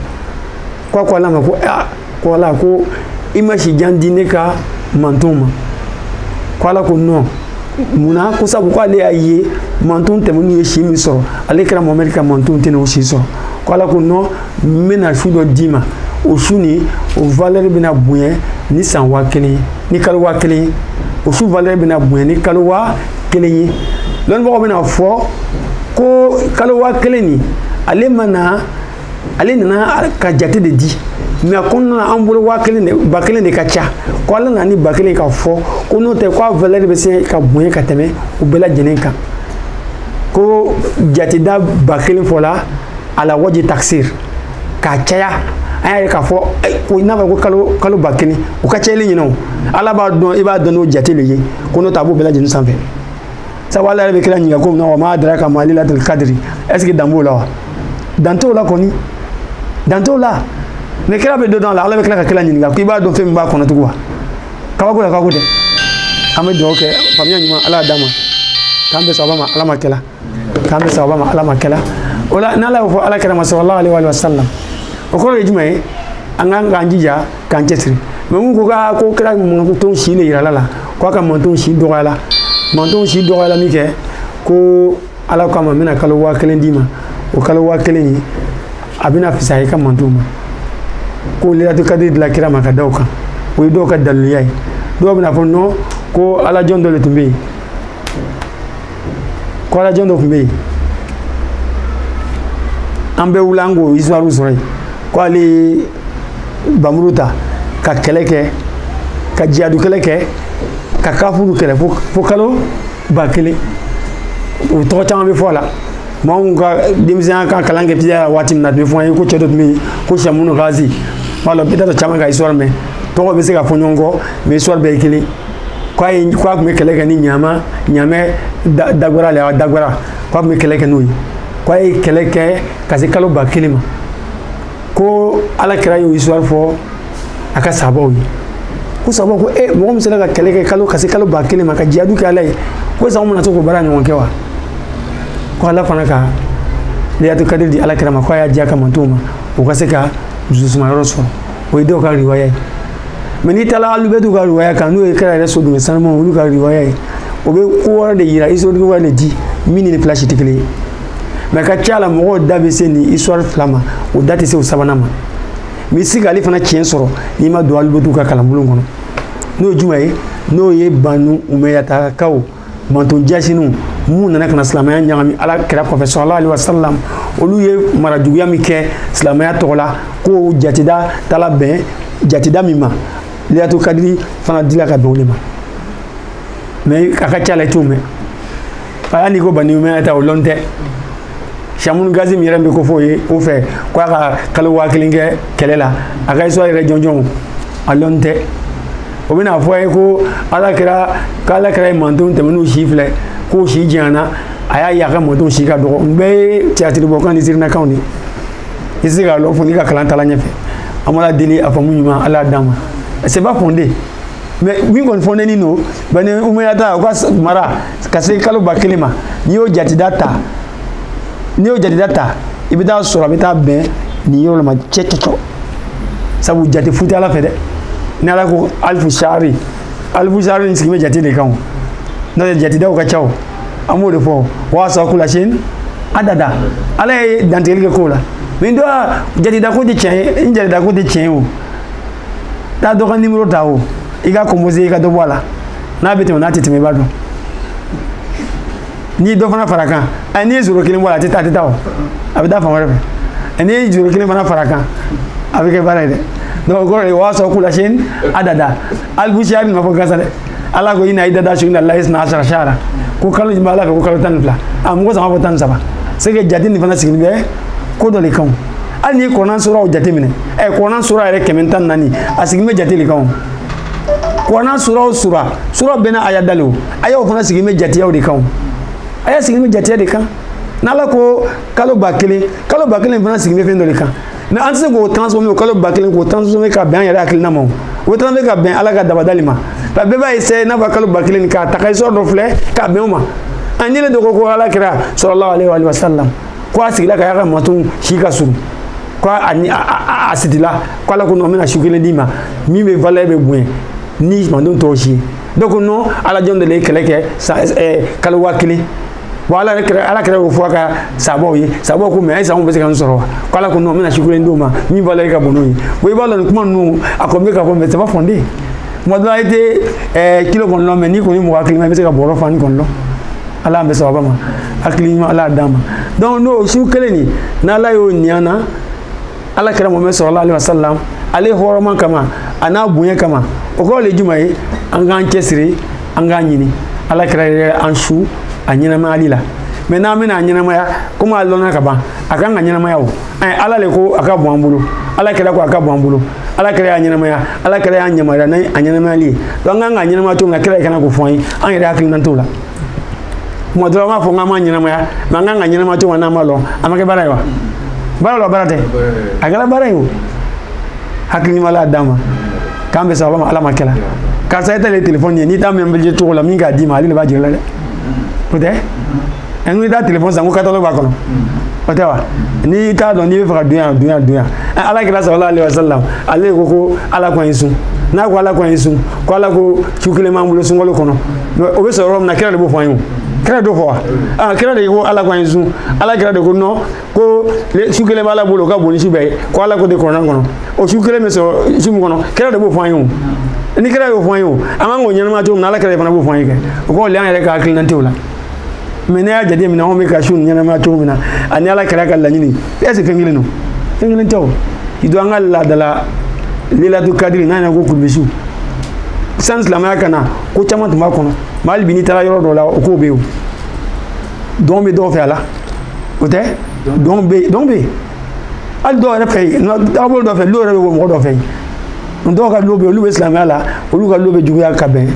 ko a ko ala ma ko aa ko ala ko i ma si jan di ne ka mantonw ma ko ala ko non munna ko sabu ko ale y'a ye manton tɛmɛnenw ye si min sɔrɔ ale kira mohamɛdi ka manton tɛna o si sɔrɔ ko ala ko non n bɛna su dɔ d'i ma o su nin o valɛri bɛna bonya ni san waa kelen ye ni kalo waa kelen ye o su valɛri bɛna bonya ni kalo waa kelen ye lɔnnibagaw bɛna fɔ ko kalo waa kelen nin ale nana ale nana ka jate de di mais a kɔnɔna na an bolo waa kelen de ba kelen de ka ca ko ala nana ni ba kelen ka fɔ ko n'o tɛ ko a valɛri bɛ se ka bonya ka tɛmɛ o bɛɛ lajɛlen kan ko jateda ba kelen fɔla ala waji taksir k'a caya an y'a ye k'a fɔ ko i n'a fɔ ko kalo kalo ba kelen u ka cayali ɲinɛ o ala b'a dɔn i b'a dɔn n'o jate le ye ko n'o tɛ a b'o bɛɛ lajɛlen sanfɛ sabu ala yɛrɛ bɛ kira ɲininka ko min na wa ma adraka ma lailatul kadiri est ce que dan b'o la wa dan t'o la kɔni dan t'o la ni kira bɛ dɔ dɔn a la ala bɛ tila ka kira ɲininka k'i b'a dɔn fɛn min b'a kɔnɔ tugun wa kabako la kabako tɛ an bɛ dugawu kɛ faamuya ɲuman ala y'a d'an ma k'an bɛ sababa ma ala ma kɛla k'an bɛ sababa ma ala ma kɛla o la n'ala y'o fɔ ala kira ma sallallahu alaihi wa sallam o kɔrɔ ye jumɛn ye an k'an k'an jija k'an cɛsiri mais mun ko ka ko kira mantonw si de yirala a la k'a ka mantonw si dɔgɔyala mantonw si dɔgɔyala min kɛ ko ala ko a ma n bɛna kalo waa kelen d'i ma o kalo waa kelen ye a bɛna fisaya i ka mantonw ma ko lailatul kadiri dila kira ma ka da o kan o ye dɔw ka daliluya ye dɔw bɛna fɔ non ko alajɔn dɔ de tun bɛ yen ko alajɔn dɔ tun bɛ yen an bɛɛ wuli an k'o histoire sɔrɔ yen ko ale bɛ muru ta ka kɛlɛ kɛ ka jihadu kɛlɛ kɛ ka kafiri kɛlɛ fo kalo ba kelen u tɔgɔ caman bɛ fɔ a la maa minnu ka denmisɛnya ka kalan kɛ teliya la waati min na a tun bɛ fɔ an ye ko cɛ dɔ tun bɛ yen ko sɛmunu gazi b'a dɔn bɛɛ t'a dɔn caman k'a histoire mɛn tɔgɔ bɛ se ka fɔ ɲɔgɔn kɔ mais histoire bɛɛ ye kelen k'a ye k'a tun bɛ kɛlɛ kɛ ni ɲama ɲamɛ dagwara le dagwara k'a tun bɛ kɛlɛ kɛ n'o ye k'a ye kɛlɛ kɛ ka se kalo ba kelen ma ko ala kira y'o histoire fɔ a ka sabaw ye ko sabaw ko e mɔgɔ min sera ka kɛlɛ kɛ kalo ka se kalo ba kelen ma ka jiyadu kɛ ala ye ko sago mana to k'o baara ɲɔgɔn kɛ wa ko ala fana ka leyilatu kadiri di ala kira ma ko a y'a diya ka mantow ma o ka se ka dususuma yɔrɔ sɔrɔ o ye dɔw ka riwaya ye mɛ n'i taara alubɛtu ka riwaya kan n'o ye kira yɛrɛ so du sanuma olu ka riwaya ye o bɛ ko wɛrɛ de yira historique wɛrɛ de di min ni fila si tɛ kelen ye mɛ a ka ca la mɔgɔw da bɛ se nin histoire fila ma o da tɛ se o sabanan ma mɛ i tɛ se k'ale fana tiɲɛ sɔrɔ n'i ma don alibɛtu ka kalanbulon kɔnɔ n'o ye jumɛn ye n'o ye banu umeyatakaw manton jasiniw mun nana ka na silamɛya ɲagami ala kira kɔfɛ salala ali wasalam olu ye mara juguya min kɛ silamɛya tɔgɔ la ko jatida taala bɛn jatida min ma leyilatu kadiri fana dila ka bɛn o de ma mɛ a ka ca la i t'o mɛn hali n'i ko bani umeyata o lɔn tɛ samunu gazi min yɛrɛ bɛ kofɔ o ye o fɛ ko a ka kalo waa kelen kɛ kɛlɛ la a ka histoire yɛrɛ jɔnjɔnw a lɔn tɛ o bɛna fɔ a ye ko ala kira k'ala kira ye mantonw tɛmɛnenw si filɛ k'o si janyana a y'a ye a ka mantonw si ka dɔgɔ nin bɛɛ ye tiyatiribɔkan ni sirinakanw de ye i tɛ se k'a lɔn fo n'i ka kalan taala ɲɛfɛ an b'ala deli a faamu ɲuman ala d'an ma c'est pas fondé mais min kɔni fondénin don bani umeyata u ka mara ka se kalo ba kelen ma n'i y'o jatida ta n'i y'o jatida ta i bɛ taa sɔrɔ a bɛ taa bɛn nin yɔrɔ la ma cɔ cɔ cɔ sabu jate fu tɛ ala fɛ dɛ ni ala ko alifu sari alifu sari nin sigilen bɛ jate de kan o n'o tɛ jatidaw ka ca o an b'o de fɔ wa aso kula sayin adada ala ye dantigɛli kɛ k'o la min dɔ jatida ko tɛ tiɲɛ ye ni jatida ko tɛ tiɲɛ ye o taa dɔ ka nimoro ta o i k'a composer i ka dɔ bɔ a la n'a bɛ tɛmɛ n'a tɛ tɛmɛ i b'a dɔn n'i ye dɔ fana far'a kan ɛ n'i ye zoro kelen bɔ a la a tɛ taa a tɛ taa o a bɛ taa fan wɛrɛ fɛ ɛ n'i ye zoro kelen fana far'a kan a bɛ kɛ baara ye dɛ donc o kɔrɔ de o wa aso kula sayin adada alibusiya bɛ nɔfɔ gansan dɛ ala ko ina idata su na layi sina asara sara ko kalo jumɛn ala fɛ ko kalo tan ni fila a mɔgɔ si m'a fɔ tan ni saba c'est que jate nin fana sigilen bɛ ko dɔ de kan hali n'i kuranɛ suraw jateminɛ ɛ kuranɛ sura yɛrɛ kɛmɛ ni tan ni naani a sigilen bɛ jate de kan o kuranɛ suraw sura sura bɛɛ n'a aya dalen o ayaw fana sigilen bɛ jateyaw de kan o aya sigilen bɛ jateya de kan n'ala ko kalo ba kelen kalo ba kelen fana sigilen bɛ fɛn dɔ de kan mɛ an tɛ se k'o transformer o kalo ba kelen k'o transformer ka bɛn an yɛrɛ hakilina ma o o transformer ka bɛn ala ka dabada de ma nka bɛɛ b'a essayer n'a fɔ kalo ba kelen k'a ta ka histoire dɔ filɛ k'a bɛn o ma an ɲinɛna dɔ kɔ ko ala kira salala ale wa sallam ko a sigila k'a y'a ka mantonw si ka surun ko a kasila ko ala ko non n bɛna su kelen d'i ma min bɛ valeur bɛ bonya ni mantonw tɔw si ye dɔ ko non ala jɔn de la ye kɛlɛ kɛ san kalo waa kelen bon ala yɛrɛ kira ala kira y'o fɔ a ka sahabaw ye sahabaw ko mɛ a ye sango bɛ se ka n sɔrɔ wa ko ala ko non n bɛna su kelen d'o ma min valeur ka bon n'o ye bon i b'a dɔn nin kuma ninnu a kɔni bɛ ka fɔ mais c'est pas fondé kuma dɔla i tɛ ɛɛ kilo kɔni lɔn mɛ n'i kɔni mɔgɔ hakilima i bɛ se ka bɔrɔ fanin kɔni lɔn ala bɛ sababa ma hakili ɲuman ala d'a ma donc n'o su kelen nin n'ala y'o ni an na ala kira mohamɛd sallallahu alayhi wa sallam ale hɔrɔma kama a n'a bonya kama o kɔrɔ le jumɛn ye an k'an cɛsiri an k'a ɲini ala kira yɛrɛ an su a ɲɛnamayali la mɛ n'an bɛna a ɲɛnamaya komi a lɔnna ka ban a kan ka ɲɛnamaya o ala le ko a ka bɔn an bolo ala kira ko a ka bɔn an bolo ala kira y'a ɲɛnamaya ala kira y'an yamaruya n'a a ɲɛnamayali ye donc an kan k'a ɲɛnamaya cogo min na kira le kan k'o fɔ an ye an yɛrɛ hakilina t'o la kuma dɔrɔn an b'a fɔ k'an b'a ɲɛnamaya mɛ an kan ka ɲɛnamaya cogo min na n'an b'a lɔn a ma kɛ baara ye wa baara lɔ baara tɛ a kɛra baara ye o hakili ɲuman ala d'a ma k'an bɛ sababa ma ala ma kɛla karisa e tɛ le telefɔni ye n'i t'a mɛnɛ cogo lɔn min k'a d'i ma ale de b'a jira i la dɛ o tɛ an ko i taa telefɔni san ko catalogue b'a kɔnɔ o tɛ wa n'i t'a dɔn n'i bɛ fɛ ka dunya dunya dunya ala kira sallallahu alaihi wasallam ale ko ko ala ko an ye sun n'a ko ala ko an ye sun ko ala ko su kelen b'an bolo sunkalo kɔnɔ o bɛ sɔrɔ yɔrɔ min na kira de b'o fɔ an ye kira dɔ fɔ wa aa kira de ko ala ko an ye sun ala kira de ko nɔ ko su kelen b'ala bolo o ka bon ni su bɛɛ ye ko ala ko de kurana kɔnɔ o su kelen bɛ sɔrɔ su min kɔnɔ kira de b'o fɔ an ye ni kira y'o fɔ an ye an kan k'o ɲɛnamaya cogo min na ala kira de fana b'o fɔ an ye kɛ o kɔrɔ le an yɛrɛ ka hakilina tɛ o la mɛ n'an y'a jate minɛ anw bɛ ka su ɲɛnamaya cogo min na ani ala kira ka laɲini est ce que fɛn kelen don fɛn kelen tɛ o k'i to an ka laadala lelatu kadiri n'a ɲɛna ko kulubisiw san silamɛya ka na ko caman tun b'a kɔnɔ mɛ hali bi n'i taara yɔrɔ dɔ la o ko bɛ yen o dɔn bɛ dɔw fɛ wala o tɛ dɔn bɛ yen dɔn bɛ yen hali dɔw yɛrɛ fɛ yen dagabolo dɔ fɛ lo yɛrɛ bɛ bɔ mɔgɔ dɔ fɛ yen dɔw ka lo bɛ yen olu bɛ silamɛya la olu ka lo bɛ juguya ka bɛn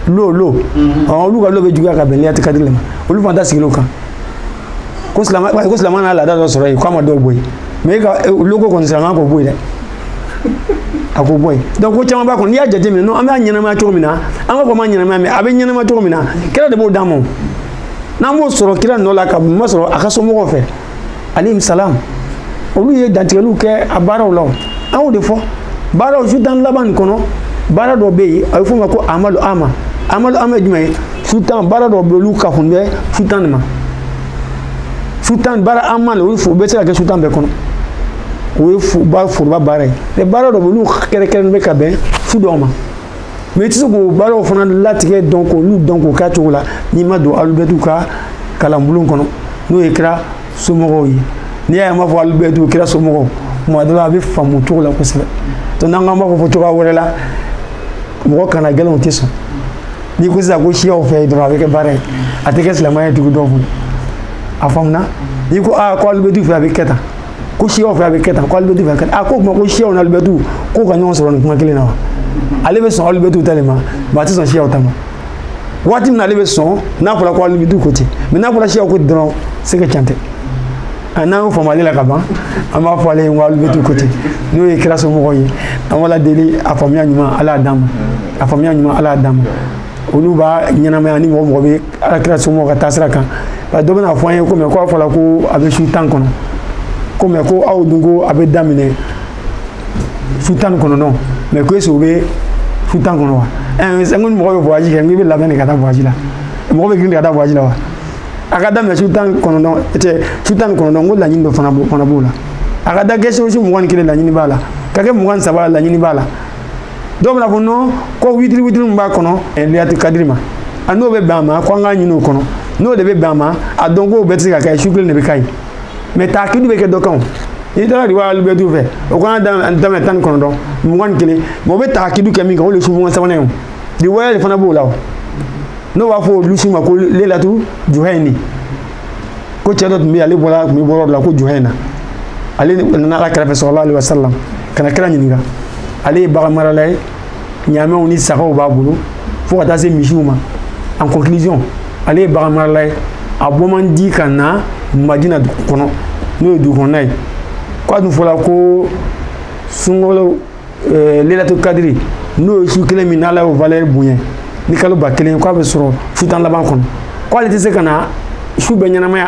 lo lo mhm. olu ka lo bɛ juguya ka bɛn lelatu kadiri ma olu fana ta sigilen o kan ko silamɛ ko silamɛya nana laada dɔ sɔrɔ yen k'a ma dɔw bɔ yen mɛ e ka e, loko kɔni silamɛya k'o bɔ yen dɛ a k'o bɔ yen donc ko caman b'a kɔnɔ n'i y'a jateminɛ n'o an b'a ɲɛnamaya cogo min na an b'a fɔ an b'a ɲɛnamaya mɛ a bɛ ɲɛnamaya cogo min na kira de b'o d'an ma n'an b'o sɔrɔ kira nɔ la ka ma sɔrɔ a ka somɔgɔw fɛ alayhim salam olu ye dantigɛliw kɛ a baaraw la an y'o de fɔ baaraw su tan laban nin kɔnɔ baara dɔ bɛ yen a bɛ f'o ma ko amalu ama amalu ama ye jumɛn ye su tan baara dɔ bɛ yen olu ka kun bɛ su tan de ma su tan baara ama de olu fo bɛ se ka kɛ su tan bɛɛ kɔnɔ o ye foroba baara ye mɛ baara dɔ bɛ yen olu kɛrɛkɛrɛnnen bɛ ka bɛn su dɔw ma mɛ i tɛ se k'o baaraw fana latigɛ dɔn k'olu dɔn k'o k'a cogo la n'i ma don alubɛtu ka kalanbulon kɔnɔ n'o ye kira somɔgɔw ye n'i y'a ye an b'a fɔ alubɛtu kira somɔgɔw tuma dɔ la a bɛ faamu cogo la kosɛbɛ to n'an k'an b'a fɔ fɔ cogoya wɛrɛ la mɔgɔ kana gɛlɛn o tɛ sɔn n'i ko sisan ko siyaw fɛ dɔrɔn a bɛ kɛ baara ye a tɛ kɛ silamɛya ye dugu dɔw kɔnɔ a faamuna n'i ko aa ko alubɛtu fɛ a bɛ kɛ tan ko siyaw fɛ a bɛ kɛ tan ko alibɛtu fɛ a kɛ tan a ko o tuma ko siyaw ni alibɛtu k'o ka ɲɔgɔn sɔrɔ nin kuma kelen na wa ale bɛ sɔn alibɛtu ta de ma ba a tɛ sɔn siyaw ta ma waati min na ale bɛ sɔn n'a fɔra ko alibɛtu ko ten mɛ n'a fɔra siyaw ko ten dɔrɔn se ka can tɛ a n'an y'o faamu ale la ka ban an b'a fɔ ale ye ko alibɛtu ko ten n'o ye kira somɔgɔw ye an b'ala deli a faamuya ɲuman ala y'a d'an ma a faamuya ɲuman ala y'a d'an ma olu b'a ɲɛnamaya ni mɔgɔ mɔgɔ bɛ ala kira somɔgɔ ka taasira kan bari dɔ bɛna fɔ an ye ko mɛ ko a fɔla ko a bɛ su tan kɔnɔ ko mɛ ko aw dun ko a bɛ daminɛ su tan ni kɔnɔntɔn mɛ ko est-ce o bɛ su tan kɔnɔ wa ɛɛ sɛ n ko ni mɔgɔ bɛ voyage kɛ n ko i bɛ labɛn de ka taa voyage la mɔgɔ bɛ girin de ka taa voyage la wa a ka daminɛ su tan ni kɔnɔntɔn tɛ su tan ni kɔnɔntɔn n ko laɲini dɔ fana b'o fana b'o la a ka da kɛ sewosi mugan ni kelen laɲini b'a la ka kɛ mugan ni saba laɲini b'a la dɔw bɛna fɔ nɔn ko witiri witiri min b'a kɔnɔ lelatu kadiri ma a n'o bɛ bɛn a ma ko an k'a ɲini o kɔnɔ n'o de bɛ bɛn a ma a dɔn k'o bɛɛ tɛ se ka kɛ su kelen de bɛ ka ɲi mɛ taakidu bɛ kɛ dɔ kan o n'i taara riwaya alibɛtu fɛ o kan ka daminɛ tan ni kɔnɔntɔn mugan ni kelen mɛ o bɛ taakidu kɛ min kan o de ye su mugan ni sabanan ye o riwaya de fana b'o la o n'o b'a fɔ o su ma ko lelatu juhɛni ko cɛ dɔ tun bɛ ale bɔra bɔnda dɔ la ko juhɛna ale nana ala kira fɛ sɔlalahu alehi wasalam ka na kira ɲininka ale ye bagan marala ye ɲaamɛw ni sagaw b'a bolo fo ka taa se misiw ma en conclusion ale ye bagan marala ye a bɔ man di ka na madina dugu kɔnɔ n'o ye dugu kɔnɔna ye ko a dun fɔla ko sunkalo eh, lelatu kadiri n'o ye su kelen min n'ala y'o valeur bonya ni kalo ba kelen k'a bɛ sɔrɔ su tan laban kɔnɔ ko ale tɛ se ka na su bɛɛ ɲɛnamaya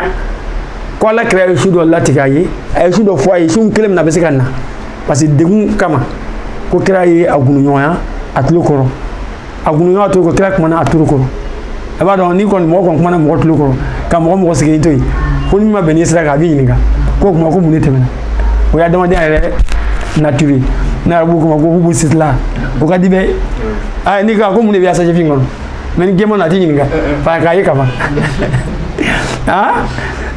ko ala kira ye su dɔ latigɛ a ye a ye su dɔ fɔ a ye su kelen min na a bɛ se ka na parce que degun kama ko kira ye a gundoɲɔgɔnya a tulo kɔrɔ a kun ka to ko kira kumana a tulo kɔrɔ a b'a dɔn n'i kɔni mɔgɔ kɔni kumana mɔgɔ tulo kɔrɔ ka mɔgɔ mɔgɔ sigilen to yen ko min ma bɛn n'i sira kan a b'i ɲininka k'o kuma ko mun de tɛmɛna o ye adamadenya yɛrɛ nature ye ne yɛrɛ b'o kuma ko hubu sitila o ka di bɛɛ a n'i ka ko mun de bɛ sachet fin kɔnɔ mɛ ni gɛman na a t'i ɲininka ba a k'a ye ka ban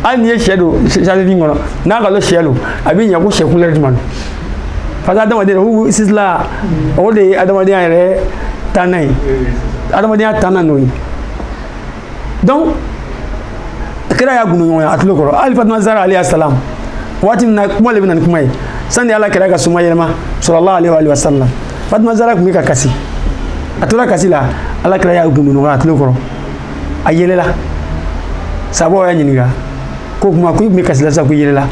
hali n'i ye sɛ don sachet fin kɔnɔ n'a k'a lɔn sɛ don a b'i ɲɛ ko sɛ kulɛri jumɛn don fasa adamadenya hu sisila o de ye adamadenya yɛrɛ tanna ye adamadenya tanna n'o ye donc kira y'a ŋunuŋunu a tulo kɔrɔ hali fatima zara alayhi salam waati min na kuma le bɛ na ni kuma ye sani ala kira ka somayɛlɛma sallallahu alayhi wa sallam fatima zara tun bɛ ka kasi a tora kasi la ala kira y'a ŋunuŋunu a tulo kɔrɔ a yɛlɛla sahabaw y'a ɲininka ko kuma ko i tun bɛ kasi la sisan ko i yɛlɛla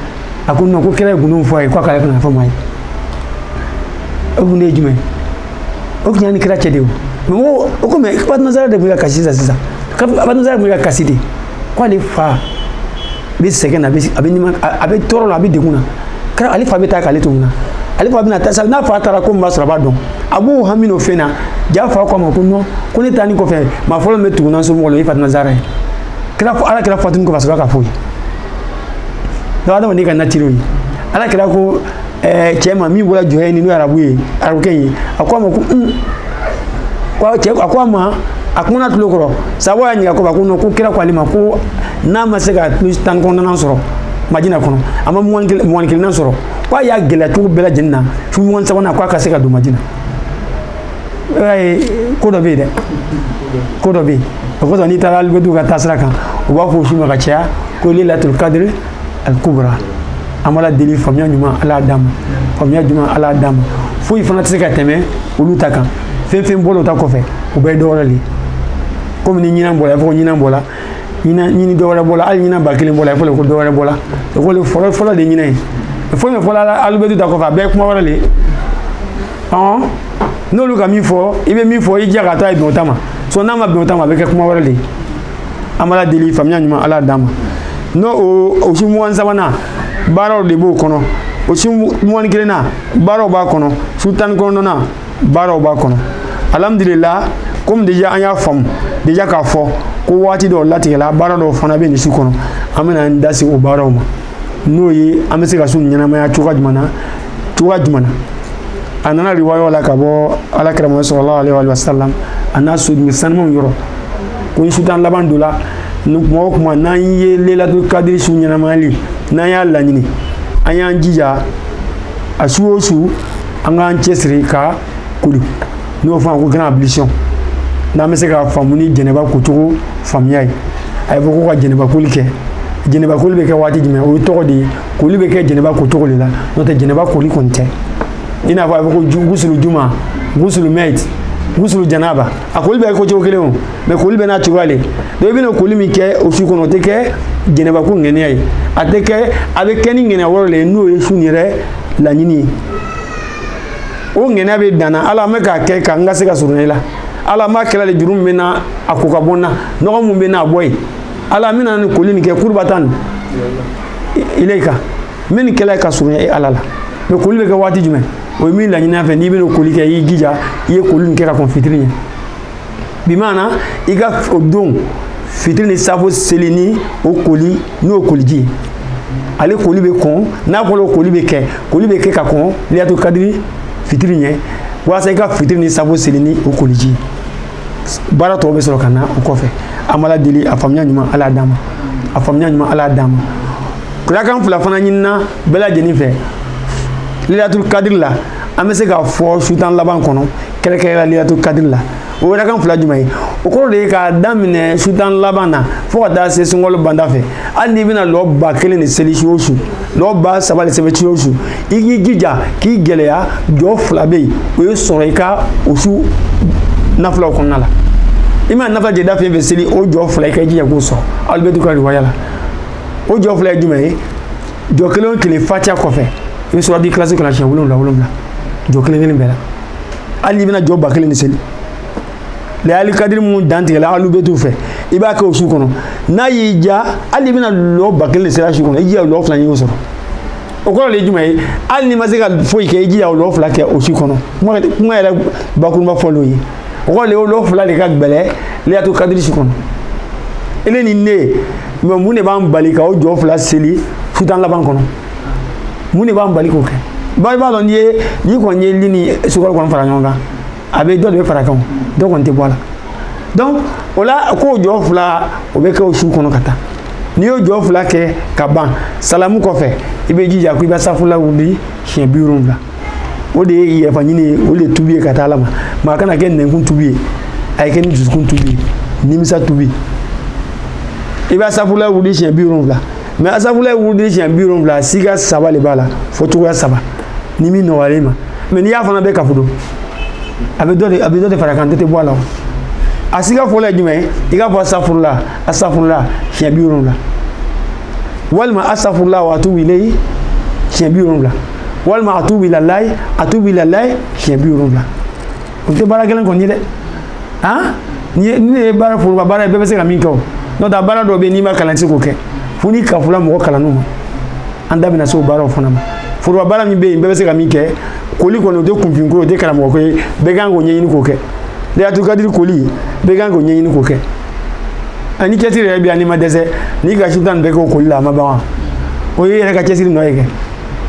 a ko ko kira ye gundo fɔ a ye k'a k'ale kana fɔ maa ye o gundo ye jumɛn o tun y'a ni kira cɛ de ye o mɛ o ko mɛ fatima zara de tun bɛ ka kasi sisan sisan fatima zara tun bɛ ka kasi de k'ale fa bɛ sɛgɛn na a bɛ dimi na a bɛ tɔɔrɔ la a bɛ degun na kira ale fa bɛ taa k'ale to mun na ale fa bɛna taa sa n'a fa taara ko min b'a sɔrɔ a b'a dɔn a b'o hami n'o fɛn na a fa ko a ma ko nɔn ko ne taanin kɔfɛ maa fɔlɔ min bɛ tugu n na somɔgɔw la o ye fatima zara ye kira ala kira fatunin kɔfɛ a sɔrɔ k'a fɔ u ye dɔw adamaden ka natiriw ye ala kira ko eh, cɛ ma min bɔra juhayni n'o ye arabu ye arabukɛ ye a ko a ma ko un ko cɛ a ko a ma a kumana a tulo kɔrɔ sahabaw y'a ɲininka ko ba ko non ko kira ko ale ma ko n'a ma se ka tile tan kɔnɔntɔnnan sɔrɔ madina kɔnɔ a ma mugan kelennan sɔrɔ ko a y'a gɛlɛya cogo bɛɛ lajɛlen na su mugan sabanan ko a ka se ka don madina i b'a ye ko dɔ bɛ yen dɛ ko dɔ bɛ yen o kosɔn n'i taara alibɛti ka taasira kan u b'a fɔ o su ma ka caya ko lelatul kadiri al kubra an b'ala deli faamuya ɲuman ala y'a d'an ma faamuya ɲuman ala y'a d'an ma foyi fana tɛ se ka tɛmɛ olu ta kan fɛn fɛn bɔra o ta kɔfɛ o bɛɛ ye dɔ wɛrɛ de ye komi ni ɲinan bɔra i fɔ ko ɲinan bɔra ɲinan ɲini dɔ wɛrɛ bɔra hali ɲinan ba kelen bɔra i fɔ ko dɔ wɛrɛ bɔra o ko fɔlɔ fɔlɔ de ɲinan ye fɛn fɛn fɔra alibɛti ta kɔfɛ a bɛɛ ye kuma wɛrɛ de ye ɔn n'olu ka min fɔ i bɛ min fɔ i jija k'i ta ye bɛn o ta ma so n'a ma bɛn o ta ma a bɛ kɛ kuma wɛrɛ de ye an b'ala deli faamuya ɲuman ala d'an ma n'o o o su mugan sabanan baaraw de b'o kɔnɔ o su mugan ni kelennan baaraw b'a kɔnɔ su tan ni kɔnɔntɔnnan baaraw b'a kɔnɔ alhamdulila komi deja an y'a faamu deja k'a fɔ ko waati dɔw latigɛla baara dɔw fana bɛ nin su kɔnɔ an bɛna an da se o baaraw ma n'o ye an bɛ se ka su ɲɛnamaya cogoya jumɛn na cogoya jumɛn na a nana riwayaw la ka bɔ ala kira mahamadu sallallahu alayhi wa sallam a n'a somɔgɔ sanumanw yɔrɔ ko ni su tan laban donna ni kuma o kuma n'an ye lelatul kadiri su ɲɛnamayali n'an y'a laɲini an y'an jija a su o su an k'an cɛsiri ka koli n'o fɔ an ko gran ablisiyɔn n'an bɛ se k'a faamu ni jɛnɛba kocogo faamuya ye a y'a fɔ ko ka jɛnɛbakoli kɛ jɛnɛbakoli bɛ kɛ waati jumɛn o ye tɔgɔ de ye koli bɛ kɛ janaba ko cogo de la n'o tɛ janaba koli kɔni tɛ i n'a fɔ a bɛ ko gusulu juma gusulu mɛti gusulu janaba a koli bɛ kɛ ko cogo kelen o mɛ koli bɛɛ n'a cogoya le donc i bɛna koli min kɛ o su kɔnɔ o tɛ kɛ janaba ko ŋɛniya ye a tɛ kɛ a bɛ kɛ ni ŋɛniya wɛrɛ le ye n'o ye surunya laɲini ye o ŋɛniya bɛ danna ala an bɛ k'a kɛ ka n ka se ka surunya i la ala an b'a kɛla le jurumu min bɛ n na a ko ka bɔ n na nɔgɔ min bɛ n na a bɔ yen ala an bɛna nin koli nin kɛ kurubatan nin ilayika n bɛ nin kɛla le ka surunya e ala la mɛ koli bɛ kɛ waati jumɛn o ye min laɲinina an fɛ n'i bɛna koli kɛ i y'i jija i ye koli nin kɛ ka kɔn fitiri ɲɛ bi maana i ka o don fitiri ni safo seli ni o koli n'o koliji ye ale koli bɛ kɔn n'a kɔni o koli bɛ kɛ koli bɛ kɛ ka kɔn lilatul kadiri fitiri ɲɛ walasa i ka fitiri ni safo seli ni o koliji ye baara tɔw bɛ sɔrɔ ka na o kɔfɛ an b'ala deli a faamuya ɲuman ala d'an ma a faamuya ɲuman ala d'an ma rakan fila fana ɲinina bɛɛ lajɛlen fɛ lilatul kadiri la an bɛ se k'a fɔ su tan laban kɔnɔ kɛrɛkɛrɛla lilatul kadiri la o rakan fila jumɛn ye o kɔrɔ de ye k'a daminɛ su tan laban na fo ka taa se sunkalo banda fɛ hali n'i bɛna lɔ ba kelen de seli su o su n'o ba saba de seli su o su i k'i jija k'i gɛlɛya jɔ fila bɛ yen o ye sɔrɔ i ka o su nafilaw kɔnɔna la i mana jateda fɛn o fɛn seli o jɔ fila i ka jija k'o sɔrɔ alul bayiti ka riwaya la o jɔ fila ye jumɛn ye jɔ kelen o kelen fatiya kɔfɛ i bɛ suratul ikilasi kalan siɲɛ wolonwula wolonwula jɔ kelen kelen bɛɛ la hali n'i bɛna jɔ ba kelen de seli layali kadiri minnu dantigɛla alul bayiti fɛ i b'a kɛ o su kɔnɔ i y'i jija hali i bɛna lɔ ba kelen de seli o su kɔnɔ i jija lɔ fila ɲini o sɔrɔ o kɔrɔ de ye jumɛn ye hali n'i ma se ka foyi kɛ i jija o lɔ fila kɛ o su kɔnɔ kuma yɛrɛ bakuruba fɔ l'o ye o kɔrɔ de ye o lɔ fila de ka gɛlɛ layilatu kadiri su kɔnɔ e ne ni ne mɛ mun de b'an bali ka o jɔ fila seli su tan laban kɔnɔ mun de b'an bali k'o kɛ bari i b'a dɔn n'i ye n'i kɔni ye li ni sukaro kɔni fara ɲɔgɔn kan a bɛ dɔ de bɛ fara a kan dɔ kɔni tɛ bɔ a la donc o la k'o jɔ fila o bɛ kɛ o su kɔnɔ ka taa n'i y'o jɔ fila kɛ ka ban salamu kɔfɛ i b'i jija ko i b'asafurula wurudi siɲɛ bi wolonwula o de ye yafa ɲini ye o de ye tubi ye ka taa ala ma maa kana kɛ nɛnkun tubi ye a ye kɛ ni jusukun tubi ye nimisa tubi i b'asafurula wurudi siɲɛ bi wolonwula mɛ asafurulayi wurudili siɲɛ bi wolonwula sika saba de b'a la fɔcogoya saba ni min nɔgɔyalen i ma mɛ n'i y'a fana bɛɛ kafu don a bɛ dɔ de a bɛ dɔ de fara a kan dɔ tɛ bɔ a la o a sika fɔlɔ ye jumɛn i k'a fɔ asafurula asafurula siɲɛ bi wolonwula walima asafurula wa atubu ileyi siɲɛ bi wolonwula walima atubu ilalayi atubu ilalayi siɲɛ bi wolonwula o tɛ baara gɛlɛn kɔni ye dɛ han nin ne ye baara foroba baara ye bɛɛ bɛ se ka min kɛ o n'o tɛ baara dɔw bɛ yen n'i ma kalan i tɛ se k'o kɛ fo n'i kafola mɔgɔ kalannenw ma an da bɛna se o baaraw fana ma foroba baara min bɛ yen bɛɛ bɛ se ka min kɛ koli kɔni o tɛ kunfin ko ye o tɛ karamɔgɔ ko ye bɛɛ kan k'o ɲɛɲini k'o kɛ layilatu kadiri koli bɛɛ kan k'o ɲɛɲini k'o kɛ ani cɛsiri yɛrɛ bɛ yan n'i ma dɛsɛ n'i ka su tan nin bɛɛ kɛ o koli la a ma ban wa o ye i yɛrɛ ka cɛsiri nɔ ye kɛ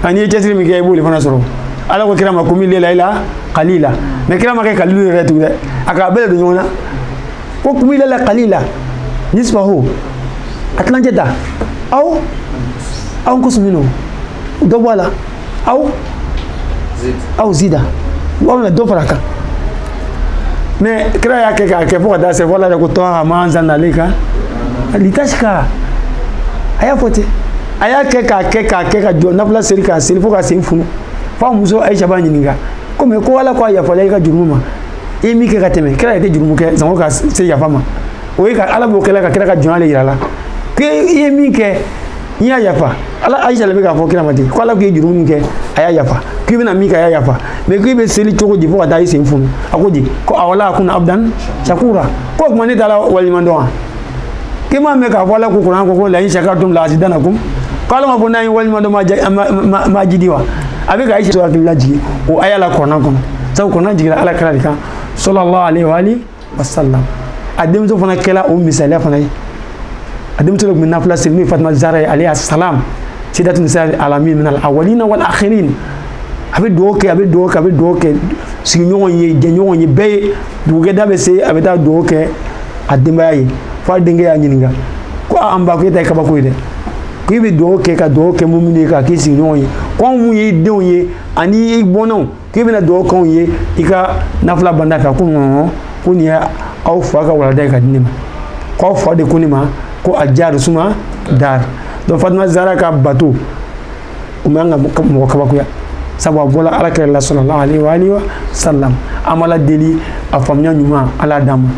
an'i ye cɛsiri min kɛ i b'o de fana sɔrɔ ala ko kira ma kumi layila ila kalila mais kira m'a kɛ kalilu yɛrɛ tugun dɛ a k'a bɛɛ de don ɲɔgɔn na ko kumi layila kalila nisfahu a tilancɛ da aw aw nkusu minhu dɔ bɔ a la aw aw zid alayi dɔ fara a kan mais kira y'a kɛ k'a kɛ fo ka taa se fo ala de ko tɔha ma anzalna alayka litasika a y'a fɔ ten a y'a kɛ k'a kɛ k'a kɛ ka jɔ nafila seri k'a seri fo k'a sen funu fo a muso ayisa b'a ɲininka ko mais ko ala ko a yafala i ka jurumu ma i ye min kɛ ka tɛmɛ kira yɛrɛ tɛ jurumu kɛ sango ka se yafa ma o ye ka ala b'o kɛla ka kira ka jɔnya de yira la ko i ye min kɛ n y'a yafa ala ayisa de bɛ k'a fɔ kira ma ten ko ala k'i ye jurumu min kɛ a y'a yafa k'i bɛna min kɛ a y'a yafa mais k'i bɛ seli cogo di fo ka taa i sen funu a ko di ko afala akuna abudan sakura ko o tuma ne t'ala waleɲuman dɔn wa i m'a mɛn k'a fɔ ala ko kuranɛ kɔnɔ la in sakartum la azidanakum k'ale ma ko n'aw ye waleɲuman dɔn n b'a jidi wa a bɛ ka ayisa hakili lajigi o aya la kuranɛ kɔnɔ sabu kuranɛ jigira ala kira de kan sɔlɔlahu alayi wa alihi wa salam a denmuso fana kɛla o misaliya fana ye a denmuso dɔ tun bɛ nafila seri n'o ye fatima zara ye alayha salam sayidatu nisa alamin min al awalina wal akhirin a bɛ dugawu kɛ a bɛ dugawu kɛ a bɛ dugawu kɛ sigiɲɔgɔn ye jɛɲɔgɔn ye bɛɛ ye dugukɛda bɛ se a bɛ taa dugawu kɛ a denbaya ye fo a denkɛ y'a ɲininka ko an ba ko e ta ye kabako ye dɛ ko i bɛ dugawu kɛ ka dugawu kɛ mɔgɔ minnu ye k'a k'i sigiɲɔgɔn ye ko anw minnu y'i denw ye ani i bɔnnaw k'i bɛna dugawu k'anw ye i ka nafila banda fɛ ko non non ko nin ye aw fa ka walanda ye ka di ne ma ko aw fa de ko ne ma ko al jari suma dari donc fatumata zara ka bato o man kan ka mɔgɔ kabakoya sabu a bɔla ala kira la sɔlɔlahu alayi wa alihi wa salam an b'ala deli a faamuya ɲuman ala d'an ma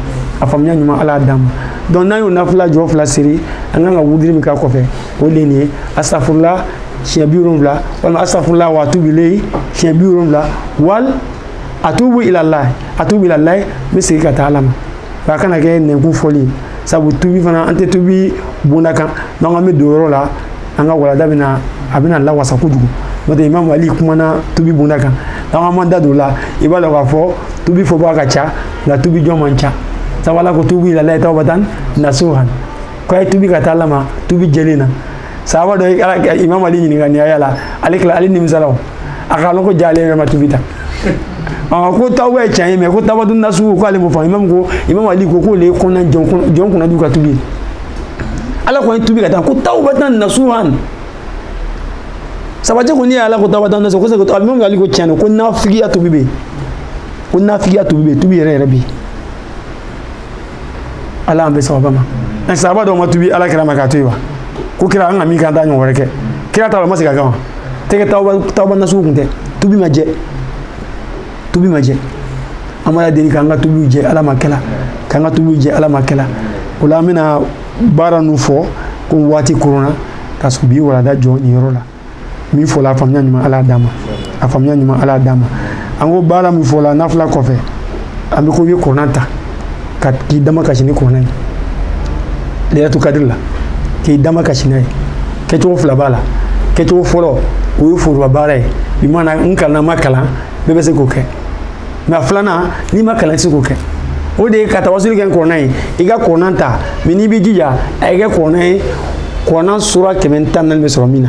a faamuya ɲuman ala d'an ma donc n'an y'o nafila jɔ fila seri an kan ka wudiri min k'a kɔfɛ o de ye nin ye asafurula siɲɛ bi wolonwula walima asafurula wa atubu ilayi siɲɛ bi wolonwula wal atubu ilalayi atubu ilalayi n bɛ segin ka taa ala ma wa a kana kɛ nɛnkun fɔli ye sabu tubi fana an tɛ tubi bonda kan n'an k'an bɛ don yɔrɔ la an ka walada bɛna a bɛna lawasa kojugu n'o tɛ imamu ali kumana tubi bunda kan n'an k'an b'an da don o la i b'a dɔn k'a fɔ tubi fɔbaga ka ca nka tubi jɔn man ca sabu ala ko tubu ila layi tawbatan nasuhan ko a ye tubi ka taa ala ma tubi jɛlen na sahaba dɔ ye ala imamu ali ɲininka nin aya la ale kila ale nimisala o a k'a lɔn ko ja ale yɛrɛ ma tubi ta aa ko tawba ye tiɲɛ ye mais ko tawbatun nasuhu ko ale m'o faamu imamu ko imamu ali ko k'o le ye kɔnɔna jɔn kunnandiw ka tubi ye ala ko a ye tubi ka taa ko tawbatan nasuhan sahaba cɛ ko n'i y'ala ko tawbatan nasuhan ko sɛ ko tɔgɔ min k'ale ko tiɲɛ don ko nafigiya tubi bɛ yen ko nafigiya tubi bɛ yen tubi yɛrɛ yɛrɛ bɛ yen ala an bɛ sahaba ma ɛ sahaba dɔw ma tubi ala kira ma k'a to yen wa ko kira an ka min k'an t'a ɲɔgɔn wɛrɛ kɛ kira t'a dɔn ma se ka kan wa tɛgɛ tawba nasuhu tun tɛ tubi ma jɛ tubi ma jɛ an b'ala deli k'an ka tubiw jɛ ala m'a kɛla k'an ka tubiw jɛ ala m'a kɛla o la an bɛna baara ninnu fɔ ko waati koronna parce que bi walada jɔ nin yɔrɔ la min fɔla a faamuya ɲuman ala d'an ma a faamuya ɲuman ala d'an ma an ko baara min fɔla nafila kɔfɛ an bɛ ko i bɛ kurana ta ka k'i damakasi ni kurana ye layilatu kadiri la k'i damakasi n'a ye kɛcogo fila b'a la kɛcogo fɔlɔ o ye foroba baara ye i mana n kalanna ma kalan bɛɛ bɛ se k'o kɛ maa filanan n'i ma kalan i tɛ se k'o kɛ o de ye ka tawasuli kɛ ni kurana ye i ka kurana ta mais n'i b'i jija a ye kɛ kurana ye kurana sura kɛmɛ ni tan ni naani bɛ sɔrɔ min na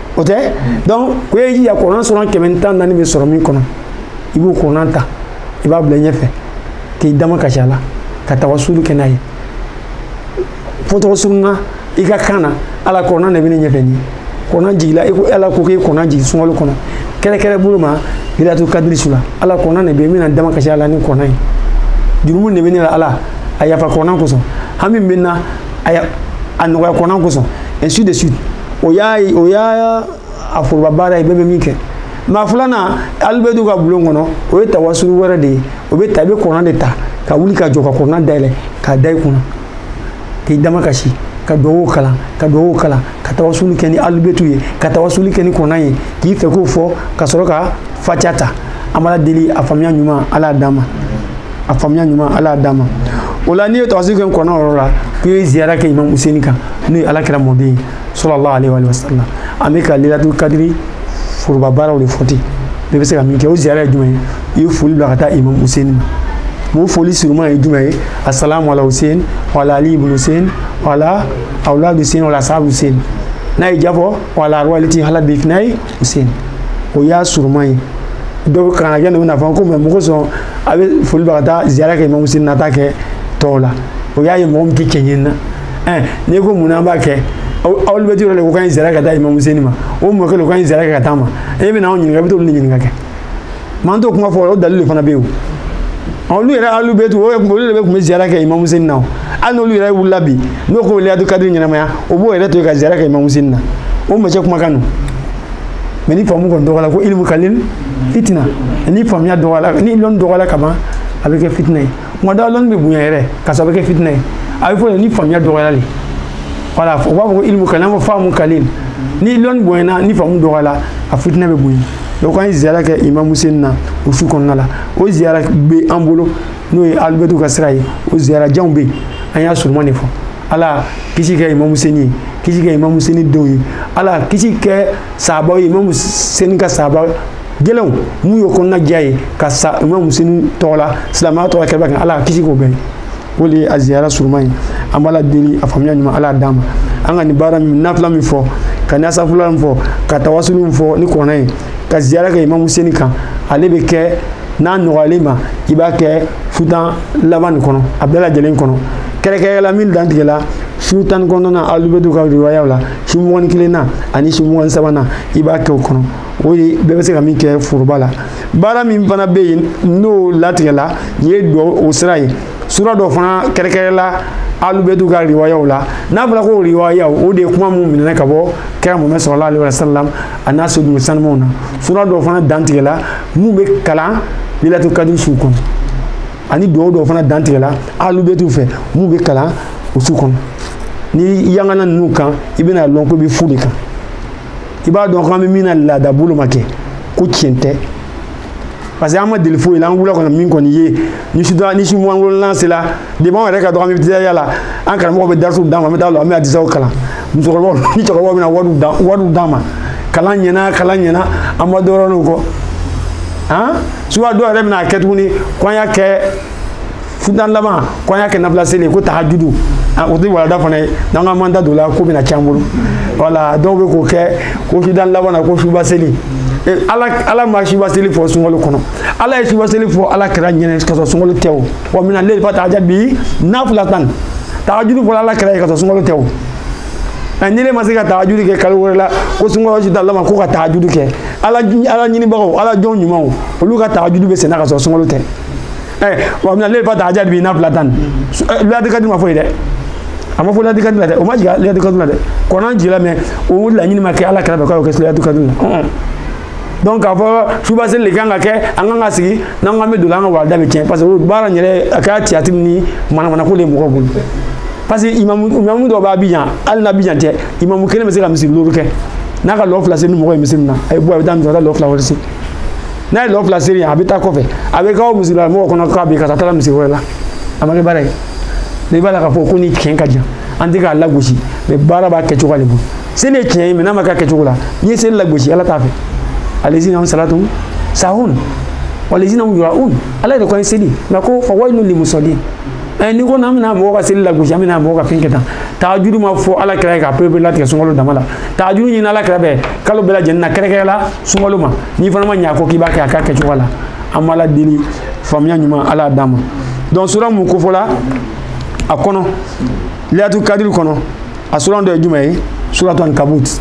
o tɛ donc ko i y'i jija kurana sura kɛmɛ ni tan naani bɛ sɔrɔ min kɔnɔ i b'o kurana ta i b'a bila i ɲɛfɛ k'i damakasi a la ka tawasulu kɛ n'a ye fo tɔgɔ sununa i ka kan na ala kurana de bɛ ne ɲɛfɛ nin kurana jigila i ko ala ko k'e kurana jigin sunkalo kɔnɔ kɛrɛnkɛrɛn bolo ma lilatu kadiri su la ala kurana de bɛ n bɛna n damakasi a la ni kurana ye jurumu de bɛ ne la ala a yafa kurana kosɔn hami bɛ n na a nɔgɔya kurana kosɔn ainsi de suite o y'a ye o y'a a foroba baara ye bɛɛ bɛ min kɛ maa filanan alibɛtu ka bulon kɔnɔ o ye tawasulu wɛrɛ de ye o bɛ ta i bɛ kurana de ta ka wuli ka jɔ ka kurana dayɛlɛ k'a da i kunna k'i damakasi ka duwawu kalan ka duwawu kalan ka tawasulu kɛ ni alibɛtu ye ka tawasulu kɛ ni kurana ye k'i fɛko fɔ ka sɔrɔ ka fatiya ta an b'ala deli a faamuya ɲuman ala y'a d'an ma a faamuya ɲuman ala y'a d'an ma o la n'i ye tawasuli kɛ kɔnɔ yɔrɔ la k'i ye ziyara kɛ imam useni kan n'o ye ala kira mɔden ye salalahu aleyhi wa sallam an bɛ ka lilatul kadiri foroba baaraw de fɔ ten bɛɛ bɛ se ka min kɛ o ziyara ye jumɛn ye i ye foli bila ka taa imam useni ma mun foli surunman ye jumɛn ye asalamu ala hussein wala ali ibn hussein wala awlad hussein wala sahabu hussein n'a y'a fɔ wala arwahi lati halat bifinayi sen o y'a surunman ye donc kana kɛ n'u bɛna a fɔ ko mɛ mun kosɔn a bɛ foli bɛ ka taa ziyara kɛ imamu seni na a t'a kɛ tɔw la o y'a ye mɔgɔ min tɛ tiɲɛ ɲini na ɛn n'i ko mun na an b'a kɛ alubɛtu de ko k'an ye ziyara kɛ ka taa imamu seni ma o mɔkɛ de ko k'an ye ziyara kɛ ka taa a ma e bɛ n'anw ɲininka i bɛ t'olu de ɲininka kɛ m'an t'o kuma fɔ o dalili de fana bɛ yen o olu yɛrɛ alubɛtu olu de bɛ tun bɛ ziyara kɛ imamu seni na hali n'olu yɛrɛ wulila bi n'o ko o bɛ layilatu kadiri ɲɛnamaya o b'o yɛrɛ to yen ka ziyara kɛ imamu seni na o mɔcɛ kumakan don mɛ ni faamu kɔni dɔgɔyara ko ilimu kalil fitina ni faamuya dɔgɔyara ni lɔnni dɔgɔyara kaban a bɛ kɛ fitina ye tuma dɔw lɔnni bɛ bonya yɛrɛ ka sababu kɛ fitinɛ ye a bɛ fɔ de ni faamuya dɔgɔyara de wala u b'a fɔ ko ilimu kalan ko faamu kalil ni lɔnni bonyana ni faamu dɔgɔyara a fitinɛ bɛ bonya donc an ye ziyara kɛ imamu seni na o su kɔnɔna la o ziyara bɛ an bolo n'o ye alubɛtu ka sira ye o ziyarajanw bɛ yen an y'a surunman de fɔ ala kisi kɛ imamu seni ye kisi kɛ imamu seni denw ye ala kisi kɛ sahabaw ye imamu seni ka sahaba gɛlɛnw mun y'o kɔnɔna diya ye ka sa imamu seni tɔgɔ la silamɛya tɔgɔ kɛba kan ala ka kisi k'o bɛɛ ye o de ye a ziyara surunman ye an b'ala deli a faamuya ɲuman ala d'an ma an ka nin baara min nafila min fɔ ka nasafula min fɔ ka tawasulu min fɔ ni kɔnɔ ye ka ziyara kɛ imamu seni kan ale bɛ kɛ n'a nɔgɔyala i ma i b'a kɛ su tan laban nin kɔnɔ a bɛɛ lajɛlen kɔnɔ kɛrɛkɛrɛ la min dantigɛla su tan ni kɔnɔntɔnnan alubɛtu ka riwayaw la su mugan ni kelenna ani su mugan ni sabanan i b'a kɛ o kɔnɔ o de bɛɛ bɛ se ka min kɛ foroba la baara min fana bɛ yen n'o latigɛla nin ye duwawu o sira ye sura dɔ fana kɛrɛkɛrɛla alubɛtu ka riwayaw la n'a fɔra ko riwayaw o de ye kuma min minɛna ka bɔ kira muhamadu salallahu alayhi wa sallam a n'a soden sanumaw na sura dɔ fana dantigɛla min bɛ kalan layilatu kadiri su kɔnɔ ani duwawu dɔ fana dantigɛla alubɛtu fɛ min bɛ kalan o su kɔnɔ ni yangana ninnu kan i bɛna lɔn ko i bɛ fu de kan i b'a dɔn k'an bɛ min na laada bolo ma kɛ ko tiɲɛ tɛ parce que an ma deli foyi la an wulila kɔnɔ min kɔni ye ni su tan ni su mugan wolonwula sera depi anw yɛrɛ ka dɔgɔ an bɛ teliya la an karamɔgɔ bɛ darisi d'an ma an bɛ taa la an bɛ hadisiw kalan musokɔrɔbaw ni cɛkɔrɔbaw bɛna wariw d'an wariw d'an ma kalan ɲɛna kalan ɲɛna an ma dɔrɔn n'o kɔ han suba dɔw yɛrɛ bɛna a kɛ tuguni ko an y'a kɛ su tan laban ko an y'a kɛ nafila seli ko tahajudu o tɛ wa laada fana ye n'an ka manda don la ko bɛna can bolo wala dɔw bɛ k'o kɛ ko su tan laban na ko suba seli ala ala ma suba seli fɔ sunkalo kɔnɔ ala ye suba seli fɔ ala kira ɲɛna ka sɔrɔ sunkalo tɛ o wa mina layli fatahajad bihi nafilatan tahajudu fɔra ala kira ye ka sɔrɔ sunkalo tɛ o nka ni ne ma se ka tahajudi kɛ kalo wɛrɛ la ko sunkalo si t'a lama ko ka tahajudi kɛ ala ala ɲinibagaw ala jɔn ɲumanw olu ka tahajudi bɛ senna ka sɔrɔ sunkalo tɛ ɛ wa mina leyli fatahajadi bi nafilatan liyatu kadiri ma fɔ yi dɛ a ma fɔ liyatu kadiri la dɛ o ma jigin liyatu kadiri la dɛ kɔnɔ jigila mais o laɲini ma kɛ ala kira bɛ k'o kɛ liyatu kadiri la donc k'a fɔ suba seli de kan ka kɛ an kan ka sigi n'an k'an bɛ don an ka walida bɛ tiɲɛ parce que baara in yɛrɛ a kɛra tiyatiri ni manamanako de ye mɔgɔw bolo parce que imamu imamu dɔw b'abidjan hali n'abidjan tɛ imamu kelen bɛ se ka misiri duuru kɛ n'a ka lɔ fila seli ni mɔgɔ ye misiri na a ye bɔ a bɛ taa misiri ka taa lɔ fila wɛrɛ se n'a ye lɔ fila seri a bɛ taa kɔfɛ a bɛ k'aw misiri la mɔgɔ kɔnɔ k'a bɛ ka taa taara misiri wɛrɛ la a ma kɛ baara ye i b'a la k'a fɔ ko ni tiɲɛ ka jan an tɛ k'a lagosi mais baara b'a kɛcogo de bolo seli ye tiɲɛ ye mais n'a ma k'a kɛcogo la n'i ye seli lagosi ala t'a fɛ alezina hum salatum sahun walezina hum yuraun ala yɛrɛ kɔni seli nka ko fa wayilu limusɔlini ko n'an bɛna mɔgɔw ka seli lagosi an bɛna mɔgɔw ka fɛn kɛ tan tahajudu ma fɔ ala kira ye k'a pereperelatigɛ sunkalo dama la tahajudu ɲinina ala kira fɛ kalo bɛɛ lajɛlen na kɛrɛkɛrɛ la sunkalo ma n'i fana ma ɲɛ a kɔ k'i b'a kɛ a k'a kɛcogo la an b'ala deli faamuya ɲuman ala y'a d'an ma donc sura mun kofɔla a kɔnɔ liyatu kadiri kɔnɔ a sura dɔ ye jumɛn ye suratu ankabut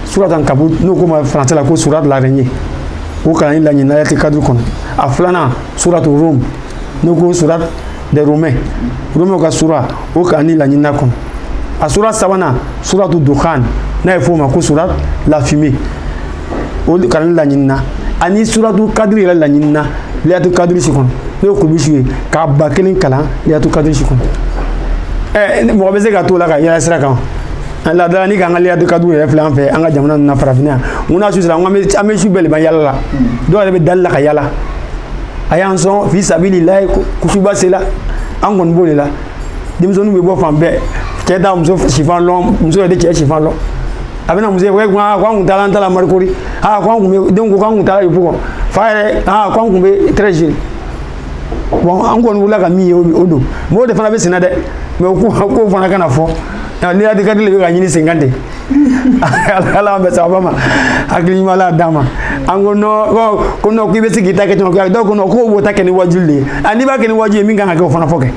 suratu ankabut n'o ko ma français la ko sourate l'araignée o kalanni laɲinina liyatu kadiri kɔnɔ a filanan suratu rum n'o ko surat des romains romains ka sura o kalanni laɲinina a kɔnɔ a sura sabanan suratu duhan n'a bɛ f'o ma ko sourate la fumée o kalanni laɲinina ani suratu kadiri yɛrɛ laɲinina liyatu kadiri su kɔnɔ n'o ye kurubi su ye k'a ba kelen kalan liyatu kadiri su kɔnɔ ɛ mɔgɔ bɛ se ka t'o la ka yɛlɛ sira kan an ladala ni k'an ka liyatu kadiri yɛrɛ filɛ an fɛ an ka jamana ninnu na farafinna yan mun n'a su sera an bɛ su bɛɛ de ban yala la dɔw yɛrɛ bɛ delila ka yala a y'an sɔn fi sabililayi ko suba sela an kɔni b'o de la denmisɛnninw bɛ bɔ fan bɛɛ cɛ tɛ muso sifan lɔn muso yɛrɛ tɛ cɛ sifan lɔn a bɛna muso ye ko an kun taara an taara marcory aa ko an kun bɛ denw ko k'an kun taara yopougon fan yɛrɛ aa ko an kun bɛ treichville bon an kɔni wulila ka min ye o don mɔgɔw de fana bɛ senna dɛ mais ko fana kana fɔ liyatu kadiri de bɛ ka ɲini sen kan de ala bɛ saba ma hakiliɲuman d'an ma an ko nɔ ko nɔ k'i bɛ se k'i ta kɛ caman kɛ dɔw ko nɔ k'o b'o ta kɛ ni wajibi de ye a n'i b'a kɛ ni wajibi ye min kan ka kɛ o fana fɔ kɛ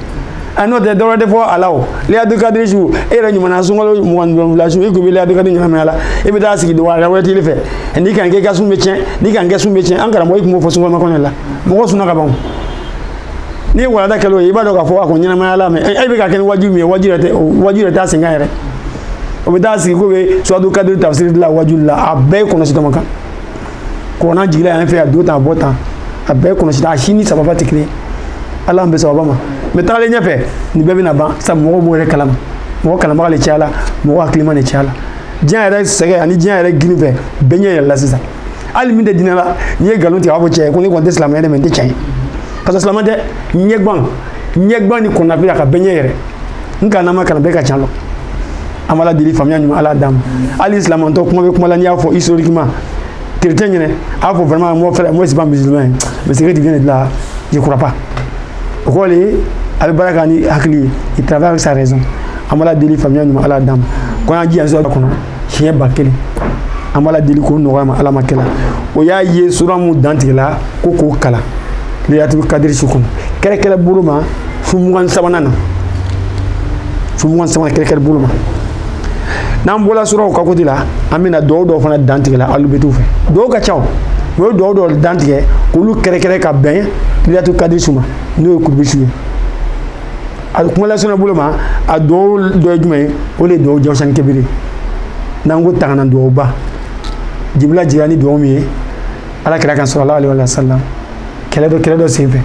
a n'o tɛ dɔwɛrɛ tɛ fɔ a la o liyatu kadiri su e yɛrɛ ɲumanna sunkalo mugan wolonwula su i kun bɛ liyatu kadiri ɲagami a la i bɛ taa sigi wɛrɛ wɛrɛ t'i fɛ n'i ka nin kɛ i ka sun bɛ tiɲɛ n'i ka nin kɛ sun bɛ tiɲɛ an karamɔgɔw tun b'o fɔ sunkalo kɔnɔ la mɔgɔ sunna ka ban n'i ye walada kɛlɛ o ye i b'a dɔn k'a fɔ a ko ɲɛnamaya la mais e bɛ ka kɛ ni wajibi min ye wajibi yɛrɛ tɛ wajibi yɛrɛ t'a sen kan yɛrɛ o bɛ taa sigi ko bɛ suratu kadiri tafsiri la wajuli la a bɛɛ ye kɔlɔsi dama kan kuranɛ jigila yan fɛ a don tan a bɔ tan a bɛɛ ye kɔlɔsi a si ni sababa tɛ kelen ala bɛ sababa ma mɛ tagalen ɲɛfɛ nin bɛɛ bɛna ban sabu mɔgɔw b'o yɛrɛ kalama mɔgɔ kalamaga de cayala mɔgɔ hakilima de cayala diɲɛ yɛrɛ sɛgɛ ani diɲɛ yɛrɛ gini fɛ bɛɛ ɲɛ yɛlɛla sisan hali min tɛ diinɛ la n'i ye nkalon tigɛ a b'a fɔ cɛ ko ne kɔni tɛ silamɛ ye dɛ mɛ nin tɛ cɛn ye ka sɔrɔ silamɛ tɛ ɲɛgban ɲɛgban ni kɔnɔnafili a ka bɛɛ ɲɛ yɛrɛ n kana ma kana bɛɛ ka cɛn lɔn an b'ala deli faamuya ɲuman ala d'an ma hali silamantɔ kuma bɛ kuma la n'i y'a fɔ historiquement chrétien ɲɛna a y'a fɔ vraiment mon frère moi je suis pas musulman mais ce que tu viens de là je crois pas o kɔrɔ de ye a bɛ baara kɛ ni hakili ye il travaille avec sa raison an b'ala deli faamuya ɲuman ala d'an ma ko an y'an jija sɔrɔ kɔnɔ siɲɛ ba kelen an b'ala deli k'o nɔgɔya an ma ala ma kɛla o y'a ye sura mun dantigɛla ko k'o kalan leyatul kadiri su kɔnɔ kɛrɛkɛrɛ bolo ma fo mugan sabanan na fo mugan sabanan kɛrɛkɛrɛ bolo ma n'an bɔla suraw ka côté la an bɛna duwawu dɔw fana dantigɛla alubetiw fɛ duwawu ka ca o o ye duwawu dɔw dantigɛ k'olu kɛrɛkɛrɛ ka bɛn leyatul kadiri su ma n'o ye kurubi su ye a bɛ kumalasana bolo ma a dugawu dɔ ye jumɛn ye o de ye dugawu jawusani kebiri n'an ko tangana duwawuba jibila jigira ni duwawu min ye ala kira kan sallallahu alayhi wa sallam kɛlɛ dɔ kɛlɛ dɔ senfɛ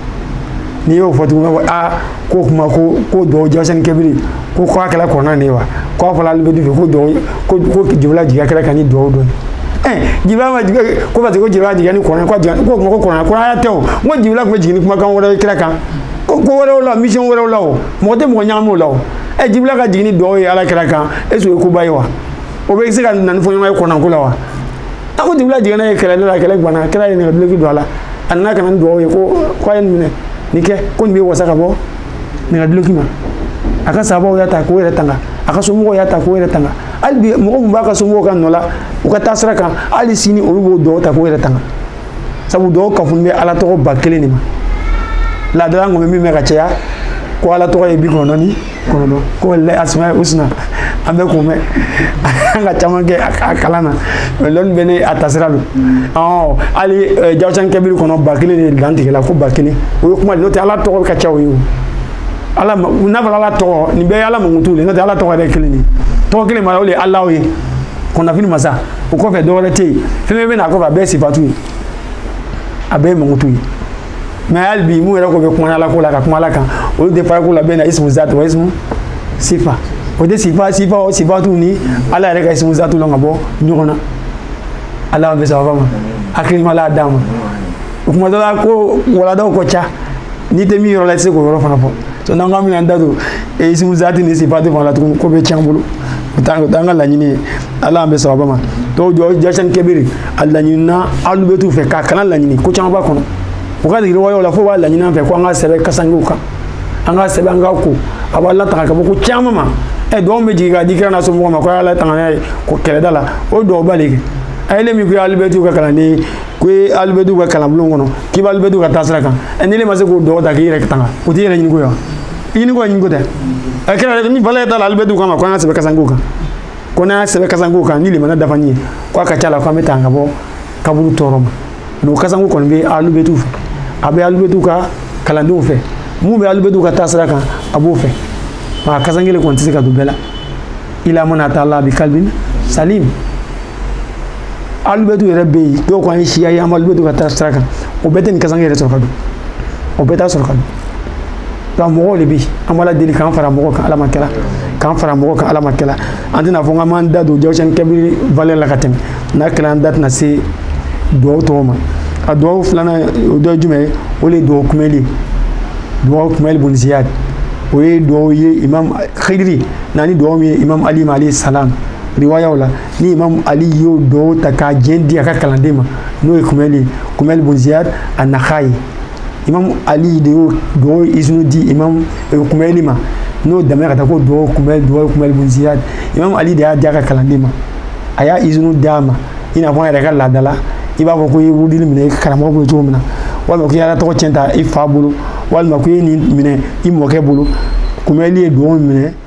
n'i y'o fɔ tuguni ko aa k'o kuma ko ko duwawu jawusani kebiri ko k'a kɛla kuranɛ de ye wa k'a fɔla alubeti fɛ ko duwawu ko ko jibila jigira kira kan ni duwawu dɔ ye jibila ma jigin ko parce que ko jibila jiginna ni kuranɛ ko kuma ko kuranɛ kɔ a tɛ o n ko jibila tun bɛ jigin ni kumakan wɛrɛ ye kira kan ko ko wɛrɛw la mission wɛrɛw la o mɔgɔ tɛ mɔgɔ ɲagami o la o ɛ jibila ka jigin ni duwawu ye ala kira kan est ce que o ye koba ye wa o bɛ se ka na ni fɔɲɔgɔn ye kuranɛko la wa a ko jibila jiginna ye kɛlɛli la kɛlɛ guwanna kira ye nɛgɛ duloki don a la a nana ka na ni duwawu ye ko ko a ye nin minɛ nin kɛ ko nin bɛ wasa ka bɔ nɛgɛ duloki ma a ka sahabaw y'a ta k'o yɛrɛ tanga a ka somɔgɔw y'a ta k'o yɛrɛ tanga hali bi mɔgɔ min b'a ka somɔgɔw ka nɔ la u ka taasira kan hali sini olu b'o duwawu ta k'o yɛrɛ tanga sabu duwawu kafuni bɛ ala tɔgɔ ba kelen de ma laadala an bɛ min mɛn ka caya ko ala tɔgɔ ye bi kɔnɔntɔn ni kɔnɔntɔn ko wa lillahi asmaul husna an bɛ kun bɛ an ka caman kɛ a kalan na mɛ lɔni bɛ ne a tasira don ɔ hali jawusan kɛbiri kɔnɔ ba kelen de dantigɛla ko ba kelen o ye kuma de n'o tɛ ala tɔgɔ ka ca o ye o ala n'a fɔra ala tɔgɔ nin bɛɛ ye ala mankutu de n'o tɛ ala tɔgɔ yɛrɛ kelen de tɔgɔ kelen ma o de ye allahu ye kɔnɔnafili masa o kɔfɛ dɔwɛrɛ tɛ yen fɛn fɛn bɛ na a kɔfɛ a bɛɛ ye sifatu ye a bɛɛ ye mankutu ye mɛ hali bi minnu yɛrɛ ko bɛ kuma ala ko la ka kuma ala kan olu tɛ fara ko la bɛɛ na ismu zati wa ismu sifa o tɛ sifa sifa o sifatu ni ala yɛrɛ ka ismu zati lɔn ka bɔ ɲɔgɔn na ala bɛ sababa ma hakili ɲuman ala d'an ma o kuma dɔ la ko waladaw ko ca n'i tɛ min yɔrɔ la i tɛ se k'o yɔrɔ fana fɔ so n'an k'an bɛna an da don isimu zati ni sifati fana la tuguni ko bɛ tiɲɛ bolo o t'an o t'an ka laɲini ye ala an bɛ sɔrɔ a ba ma duwawu jawusani kabiri a laɲinina alibɛtu fɛ k'a kalan laɲini ko caman b'a kɔnɔ u ka degeli walew la fo u b'a laɲini an fɛ ko an ka sɛbɛn kasankew kan an ka sɛbɛn an ka ko a b'an latanga ka bɔ ko caman ma ɛ duwawu bɛ jigin k'a di kira n'a somɔgɔw ma ko a y'a latanga n'a ye ko kɛlɛda la o duwawu b'ale kɛ a ye le min ko i ye alibɛtu ka kalanden ko i ye alibɛtu ka kalanbulon kɔnɔ k'i bɛ alibɛtu ka taasira kan ɛ ni e ma se k'o duwawu ta k'i yɛrɛ tanga o t'i yɛrɛ ɲiniko ye wa i ɲiniko ye ɲiniko tɛ ɛ kɛra ni bala ye t'a la alibɛtu kama ko an k'a sɛbɛn kasanke kan ko n'an y'a sɛbɛn kasanke kan ni limaniya dafalen ye ko a ka ca la ko an bɛ tanga ka bɔ kaburu tɔɔrɔ ma mɛ o kasanke kɔni bɛ alibɛtu fɛ a bɛ alibɛtu ka kalandenw fɛ min bɛ alibɛtu ka taasira kan a b'o fɛ nka kasanke kelen kɔni tɛ se ka don bɛɛ la illa man ata laha bi kalbin salim alibɛtu yɛrɛ bɛ yen dɔw ko an ye siya ye an bɛ alibɛtu ka taasira kan o bɛɛ tɛ nin kasanke yɛrɛ sɔrɔ ka don o bɛɛ t'a sɔrɔ ka don nka mɔgɔw de bɛ yen an b'ala deli k'an fara o mɔgɔw kan ala m'a kɛla k'an fara o mɔgɔw kan ala m'a kɛla an tɛna fɔ k'an b'an da don jawusani kabiri valɛ la ka tɛmɛ n'a kɛla an da tɛna se duwawu tɔw ma a duwawu filanan o dɔ ye jumɛn ye o de ye duwawu kumɛli ye duwawu kumɛli bun ziyad o ye duwawu ye imam khidiri nana ni duwawu ye imam ali ma alayhi salam riwayaw la ni imam ali y'o duwawu ta k'a izinu di a ka kalanden ma n'o ye kumɛli kumɛli bun ziyad a nahayi imam ali de y'o duwawu izinu di imam kumɛli ma n'o damina ka taa ko duwawu kumɛli duwawu kumɛli bun ziyad imam ali de y'a di a ka kalanden ma a y'a izinu d'a ma i n'a fɔ an yɛrɛ ka laada la i b'a fɔ ko i ye wurudi le minɛ i karamɔgɔ bolo cogo min na walima ko i y'a tɔgɔ cɛn ta i fa bolo walima ko i ye nin minɛ i mɔkɛ bolo kumɛli ye duwawu minɛ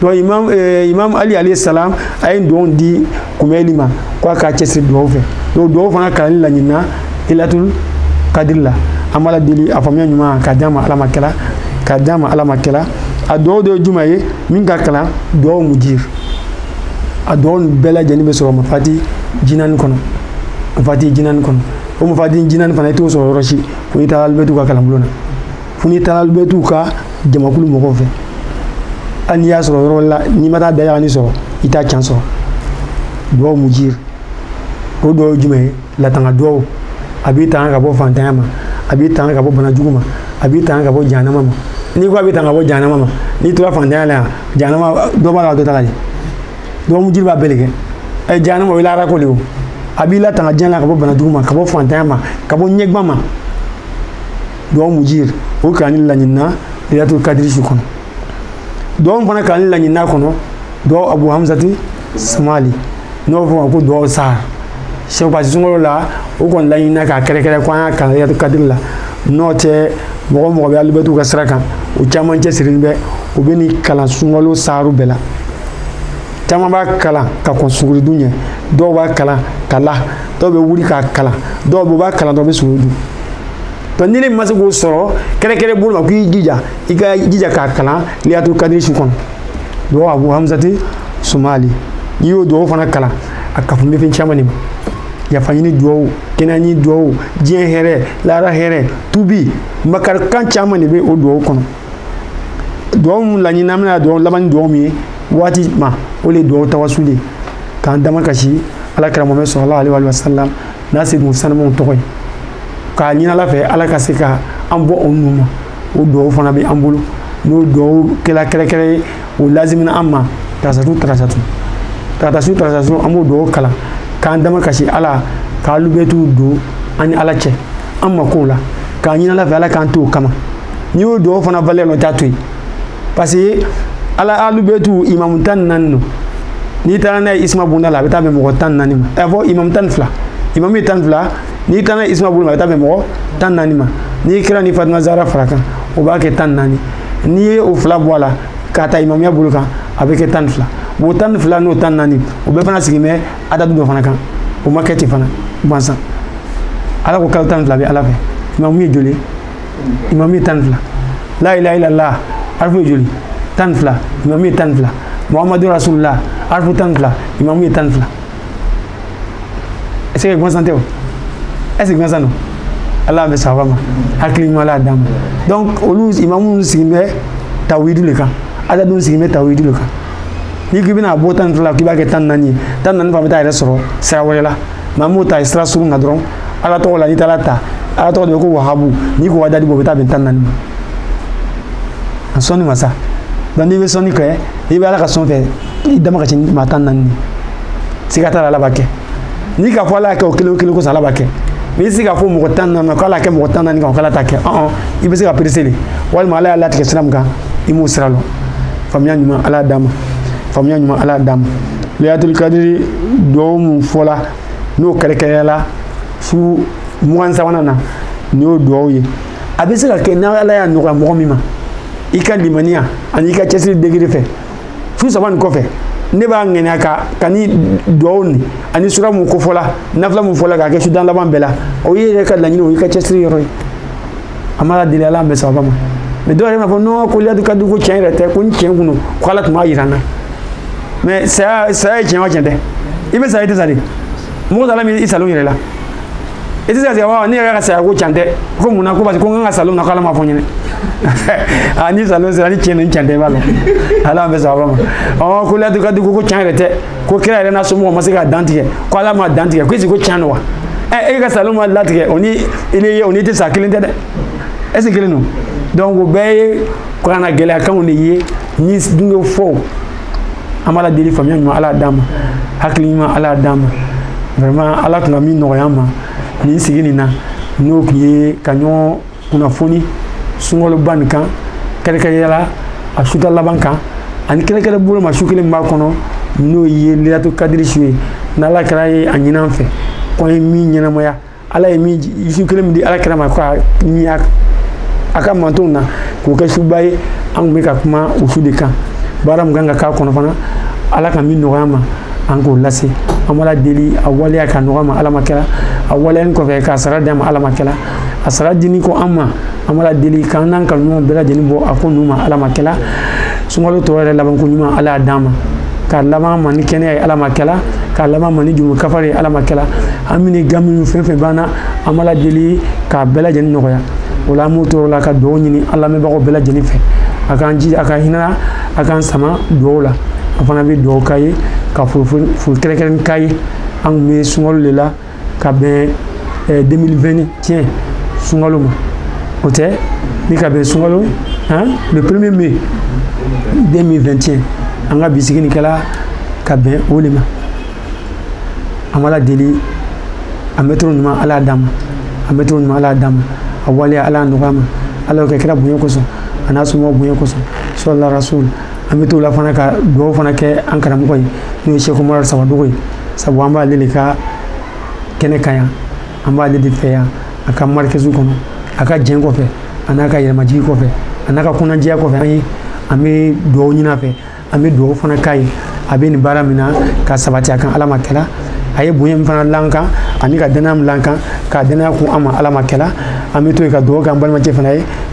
donc imam eh, imam ali alayhi salam a ye duwawu di kumɛli ma ko a k'a cɛsiri duwawu fɛ donc duwawu fana kalanni laɲinina lailatul kadiri la an b'ala deli a faamuya ɲuman k'a d'an ma ala m'a kɛla k'a d'an ma ala m'a kɛla a duwawu dɔ ye jumɛn ye min ka kalan duwawu mujir a duwawu bɛɛ lajɛlen bɛ sɔrɔ mafati jinani kɔnɔ mafati jinani kɔnɔ o mafati jinani fana i t'o sɔrɔ yɔrɔ si fo i taara alibɛtu ka kalanbulon na fo n'i taara alibɛtu ka jamakulu mɔgɔw fɛ hali n'i y'a sɔrɔ yɔrɔ la n'i ma taa dayagani sɔrɔ i t'a can sɔrɔ duwaw mujiri o dɔ ye jumɛn ye latanga duwaw a b'i tanga ka bɔ fantanya ma a b'i tanga ka bɔ bana jugu ma a b'i tanga ka bɔ jahanama ma n'i ko a bɛ tanga ka bɔ jahanama ma n'i tora fantanya la yan jahanama dɔ b'a la dɔ t'a la dɛ duwaw mujiri b'a bɛɛ de kɛ ɛ jahanama o ye lahara ko de ye o a b'i latanga diɲɛ la ka bɔ bana jugu ma ka bɔ fantanya ma ka bɔ ɲɛguwan ma duwawu mujir o kalanni laɲinina lailatul kadiri su kɔnɔ duwawu fana kalanni laɲinina kɔnɔ duwawu abu hamsati sumali n'o fɔ ma ko duwawu sahar sɛw pasi sunkalo la o kɔni laɲinina k'a kɛrɛkɛrɛ ko an y'a kalan lailatul kadiri la n'o tɛ mɔgɔ o mɔgɔ bɛ alubɛtiw ka sira kan o caman cɛsirilen bɛ u bɛ nin kalan sunkalo saharu bɛɛ la caman b'a kalan ka kɔn suguri dun ɲɛ dɔw b'a kalan ka la dɔw bɛ wuli k'a kalan dɔw bɛ u b'a kalan dɔw bɛ suguri dun donc ni e ma se k'o sɔrɔ kɛrɛkɛrɛ bolo ma k'i jija i ka jija k'a kalan lailatul kadiri su kɔnɔ duwawu abu hamsati sumali n'i y'o duwawu fana kalan a kafolen bɛ fɛn caman de ma yafa ɲini duwawu kɛnɛya ɲini duwawu diɲɛ hɛrɛ lahara hɛrɛ tubi makarikan caman de bɛ o duwawu kɔnɔ duwawu min laɲini an bɛna duwawu laban ni duwawu min ye waati ma o de ye duwawu tawasuli k'an damakasi ala kira muhamadu salalahu aleyi wa sallam n'a se kun sanumanw tɔgɔ ye k'a ɲini ala fɛ ala ka se ka an bɔ o ninnu ma o dugawu fana bɛ an bolo n'o dugawu kɛla kɛrɛkɛrɛ ye o lazimina an ma tarata su tarata su tarata su tarata su an b'o dugawu kalan k'an damakasi ala k'alubɛtiw don an ni ala cɛ an makow la k'a ɲini ala fɛ ala k'an to o kama n'i y'o dugawu fana valɛ nɔ t'a to yen parce que ala alubɛtiw imamu tan ni naani don n'i taara n'a ye isuma bonda la a bɛ taa bɛn mɔgɔ tan ni naani ma ɛ fɔ imamu tan ni fila imamu ye tan ni fila n'i taara n'a ye isuma bonda la a bɛ taa bɛn mɔgɔ tan ni naani ma n'i kira ni fatima zara fara a kan o b'a kɛ tan ni naani n'i ye o fila bɔ a la k'a ta imamuya bolo kan a bɛ kɛ tan ni fila bon tan ni fila n'o tan ni naani o bɛɛ fana sigilen bɛ adadu dɔ fana kan o ma kɛ ten fana gansan ala ko kalo tan ni fila bɛ ala fɛ imamu ye joli ye imamu ye tan ni fila la ilaha illallah harifu ye joli tan ni fila imamu ye tan ni fila muhamadu rasulullah harifu tan ni fila imamu ye tan ni fila est ce que gansan tɛ o est ce que gansan don ala masaba ma hakili ɲuman la d'an ma donc olu imamu sigilen bɛ tawidu de kan adadu in sigilen bɛ tawidu de kan n'i k'i bɛna bɔ tan ni fila k'i b'a kɛ tan ni naani ye tan ni naani fana bɛ taa a yɛrɛ sɔrɔ sira wɛrɛ la n'an b'o ta sira surun na dɔrɔn ala tɔgɔ la n'i taara ta ala tɔgɔ dɔ bɛ ko wahabu n'i k'o adadu bɔ o bɛ taa bɛn tan naani ma a sɔnni masa donc n'i bɛ sɔnni kɛ i bɛ ala ka sɔn fɛ i damakasi maa tan naani de siga t'a la ala b'a kɛ n'i k'a fɔ ala y'a kɛ o kelen o kelen kosɔn ala b'a kɛ mais i tɛ se k'a fɔ mɔgɔ tan naani ma ko ala y'a kɛ mɔgɔ tan naani kan o k'ala t'a kɛ ɔn i bɛ se ka perese dɛ walima ala y'a latigɛ sira min kan i m'o sira lɔn faamuya ɲuman ala y'a d'an ma faamuya ɲuman ala y'a d'an ma leyilatul kadiri duwawu mun fɔla n'o kɛrɛnkɛrɛnna su mugan sabanan na nin y'o duwawu ye a bɛ se ka kɛ ni ala y'a nɔgɔya mɔgɔ min ma i ka limaniya ani i ka cɛsiri degré fɛ su saba nin kɔfɛ ne b'a ŋaniya ka ka ni duwawu nin ani sura mun kofɔla nafila mun fɔla k'a kɛ su tan laban bɛɛ la o ye yɛrɛ ka laɲini o y'i ka cɛsiri yɔrɔ ye a ma deli ala bɛ sababa ma mɛ dɔw yɛrɛ b'a fɔ nɔn ko leyilatul kadiri ko tiɲɛ yɛrɛ tɛ ko ni tiɲɛ kun don ko ala tun b'a yira n na mais saya saya ye tiɲɛ o tiɲɛ tɛ i bɛ sa i tɛ sa de mɔgɔ sala min i salon yɛrɛ la i tɛ se ka sigi wa ne yɛrɛ ka saya ko can tɛ ko mun na ko parce que ko n ka salon na k'ala ma fɔ n ɲɛna a ni salon sera ni tiɲɛ ni can tɛ b'a la ala an bɛ sɔn a ma ɔ ko leyilatul kadiri ko can yɛrɛ tɛ ko kira yɛrɛ n'a somɔgɔw ma se ka dan tigɛ ko ala ma dan tigɛ ko est-ce que can don wa ɛ e ka salon ma latigɛ o ni i ni o ni tɛ sa kelen tɛ dɛ ɛsi kelen don donc o bɛɛ ye kunnagɛlɛyakanw de ye ni donc fɔ an b'ala deli faamuya ɲuman ala y'a d'an ma hakili ɲuman ala y'a d'an ma vraiment ala tun ka min nɔgɔya an ma nin sigi nin na n'o tun ye ka ɲɔgɔn kunnafoni sunkaloba nin kan kɛrɛnkɛrɛnya la a su tan laban kan ani kɛrɛnkɛrɛn bolo ma su kelen b'a kɔnɔ n'o ye leyilatul kadiri su ye n'ala kira ye a ɲini an fɛ ko an ye min ɲɛnamaya ala ye min su kelen min di ala kira ma ko a ni a a ka mantonw na k'o kɛ suba ye an tun bɛ ka kuma o su de kan baara min kan ka k'a kɔnɔ fana ala ka min nɔgɔya an ma an k'o lase an b'ala deli a waleya ka nɔgɔya an ma ala ma kɛla a waleyani kɔfɛ k'a sara di an ma ala ma kɛla a sara dini kɔ an ma an b'a deli k'an n'an kanuɲɔgɔn bɛɛ lajɛlen bɔ a ko nun ma ala ma kɛla sunkalo tɔ yɛrɛ labanko ɲuman ala y'a d'an ma k'a laban ma ni kɛnɛya ye ala ma kɛla k'a laban ma ni jurumu kafari ye ala ma kɛla an bɛ gan minnu fɛn fɛn b'an na an b'a deli k'a bɛɛ lajɛlen nɔgɔya o la an bɛ t'o yɔrɔ la ka dugawu ɲini an lamɛnbagaw bɛɛ lajɛlen fɛ a k'an ji a ka hinɛ a k'an sama dugawu la an fana bɛ dugawu k'a ye ka foli kɛrɛnkɛrɛn k'a ye an tun bɛ sunkalo de la ka bɛn 2021 sunkalo ma o tɛ ni ka bɛn sunkalo le premier mai 2021 an ka bi sigi nin kɛla ka bɛn o de ma an b'ala deli a mɛntulo ɲuman ala y'a d'an ma a mɛntulo ɲuman ala y'a d'an ma a waleya ala y'a nɔgɔya an ma ala y'o kɛ kira bonya kosɔn a n'a somɔgɔw bonya kosɔn sɔlu ala rasul an bɛ t'o la fana ka dugawu fana kɛ an karamɔgɔ ye n'o ye seku umaru sawadogo ye sabu an b'ale de ka kɛnɛ kan yan an b'ale de fɛ yan a ka marikazi kɔnɔ a ka jɛn kɔfɛ a n'a ka yɛrɛmajigin kɔfɛ a n'a ka kɔnɔnajɛya kɔfɛ an ye an bɛ dugawu ɲini a fɛ an bɛ dugawu fana k'a ye a bɛ nin baara min na ka sabati a kan ala ma kɛla a ye bonya min fana la an kan ani ka dannaya min la an kan k'a dannaya kun an ma ala ma kɛla an bɛ to yen ka dugawu kɛ an balimacɛ fana ye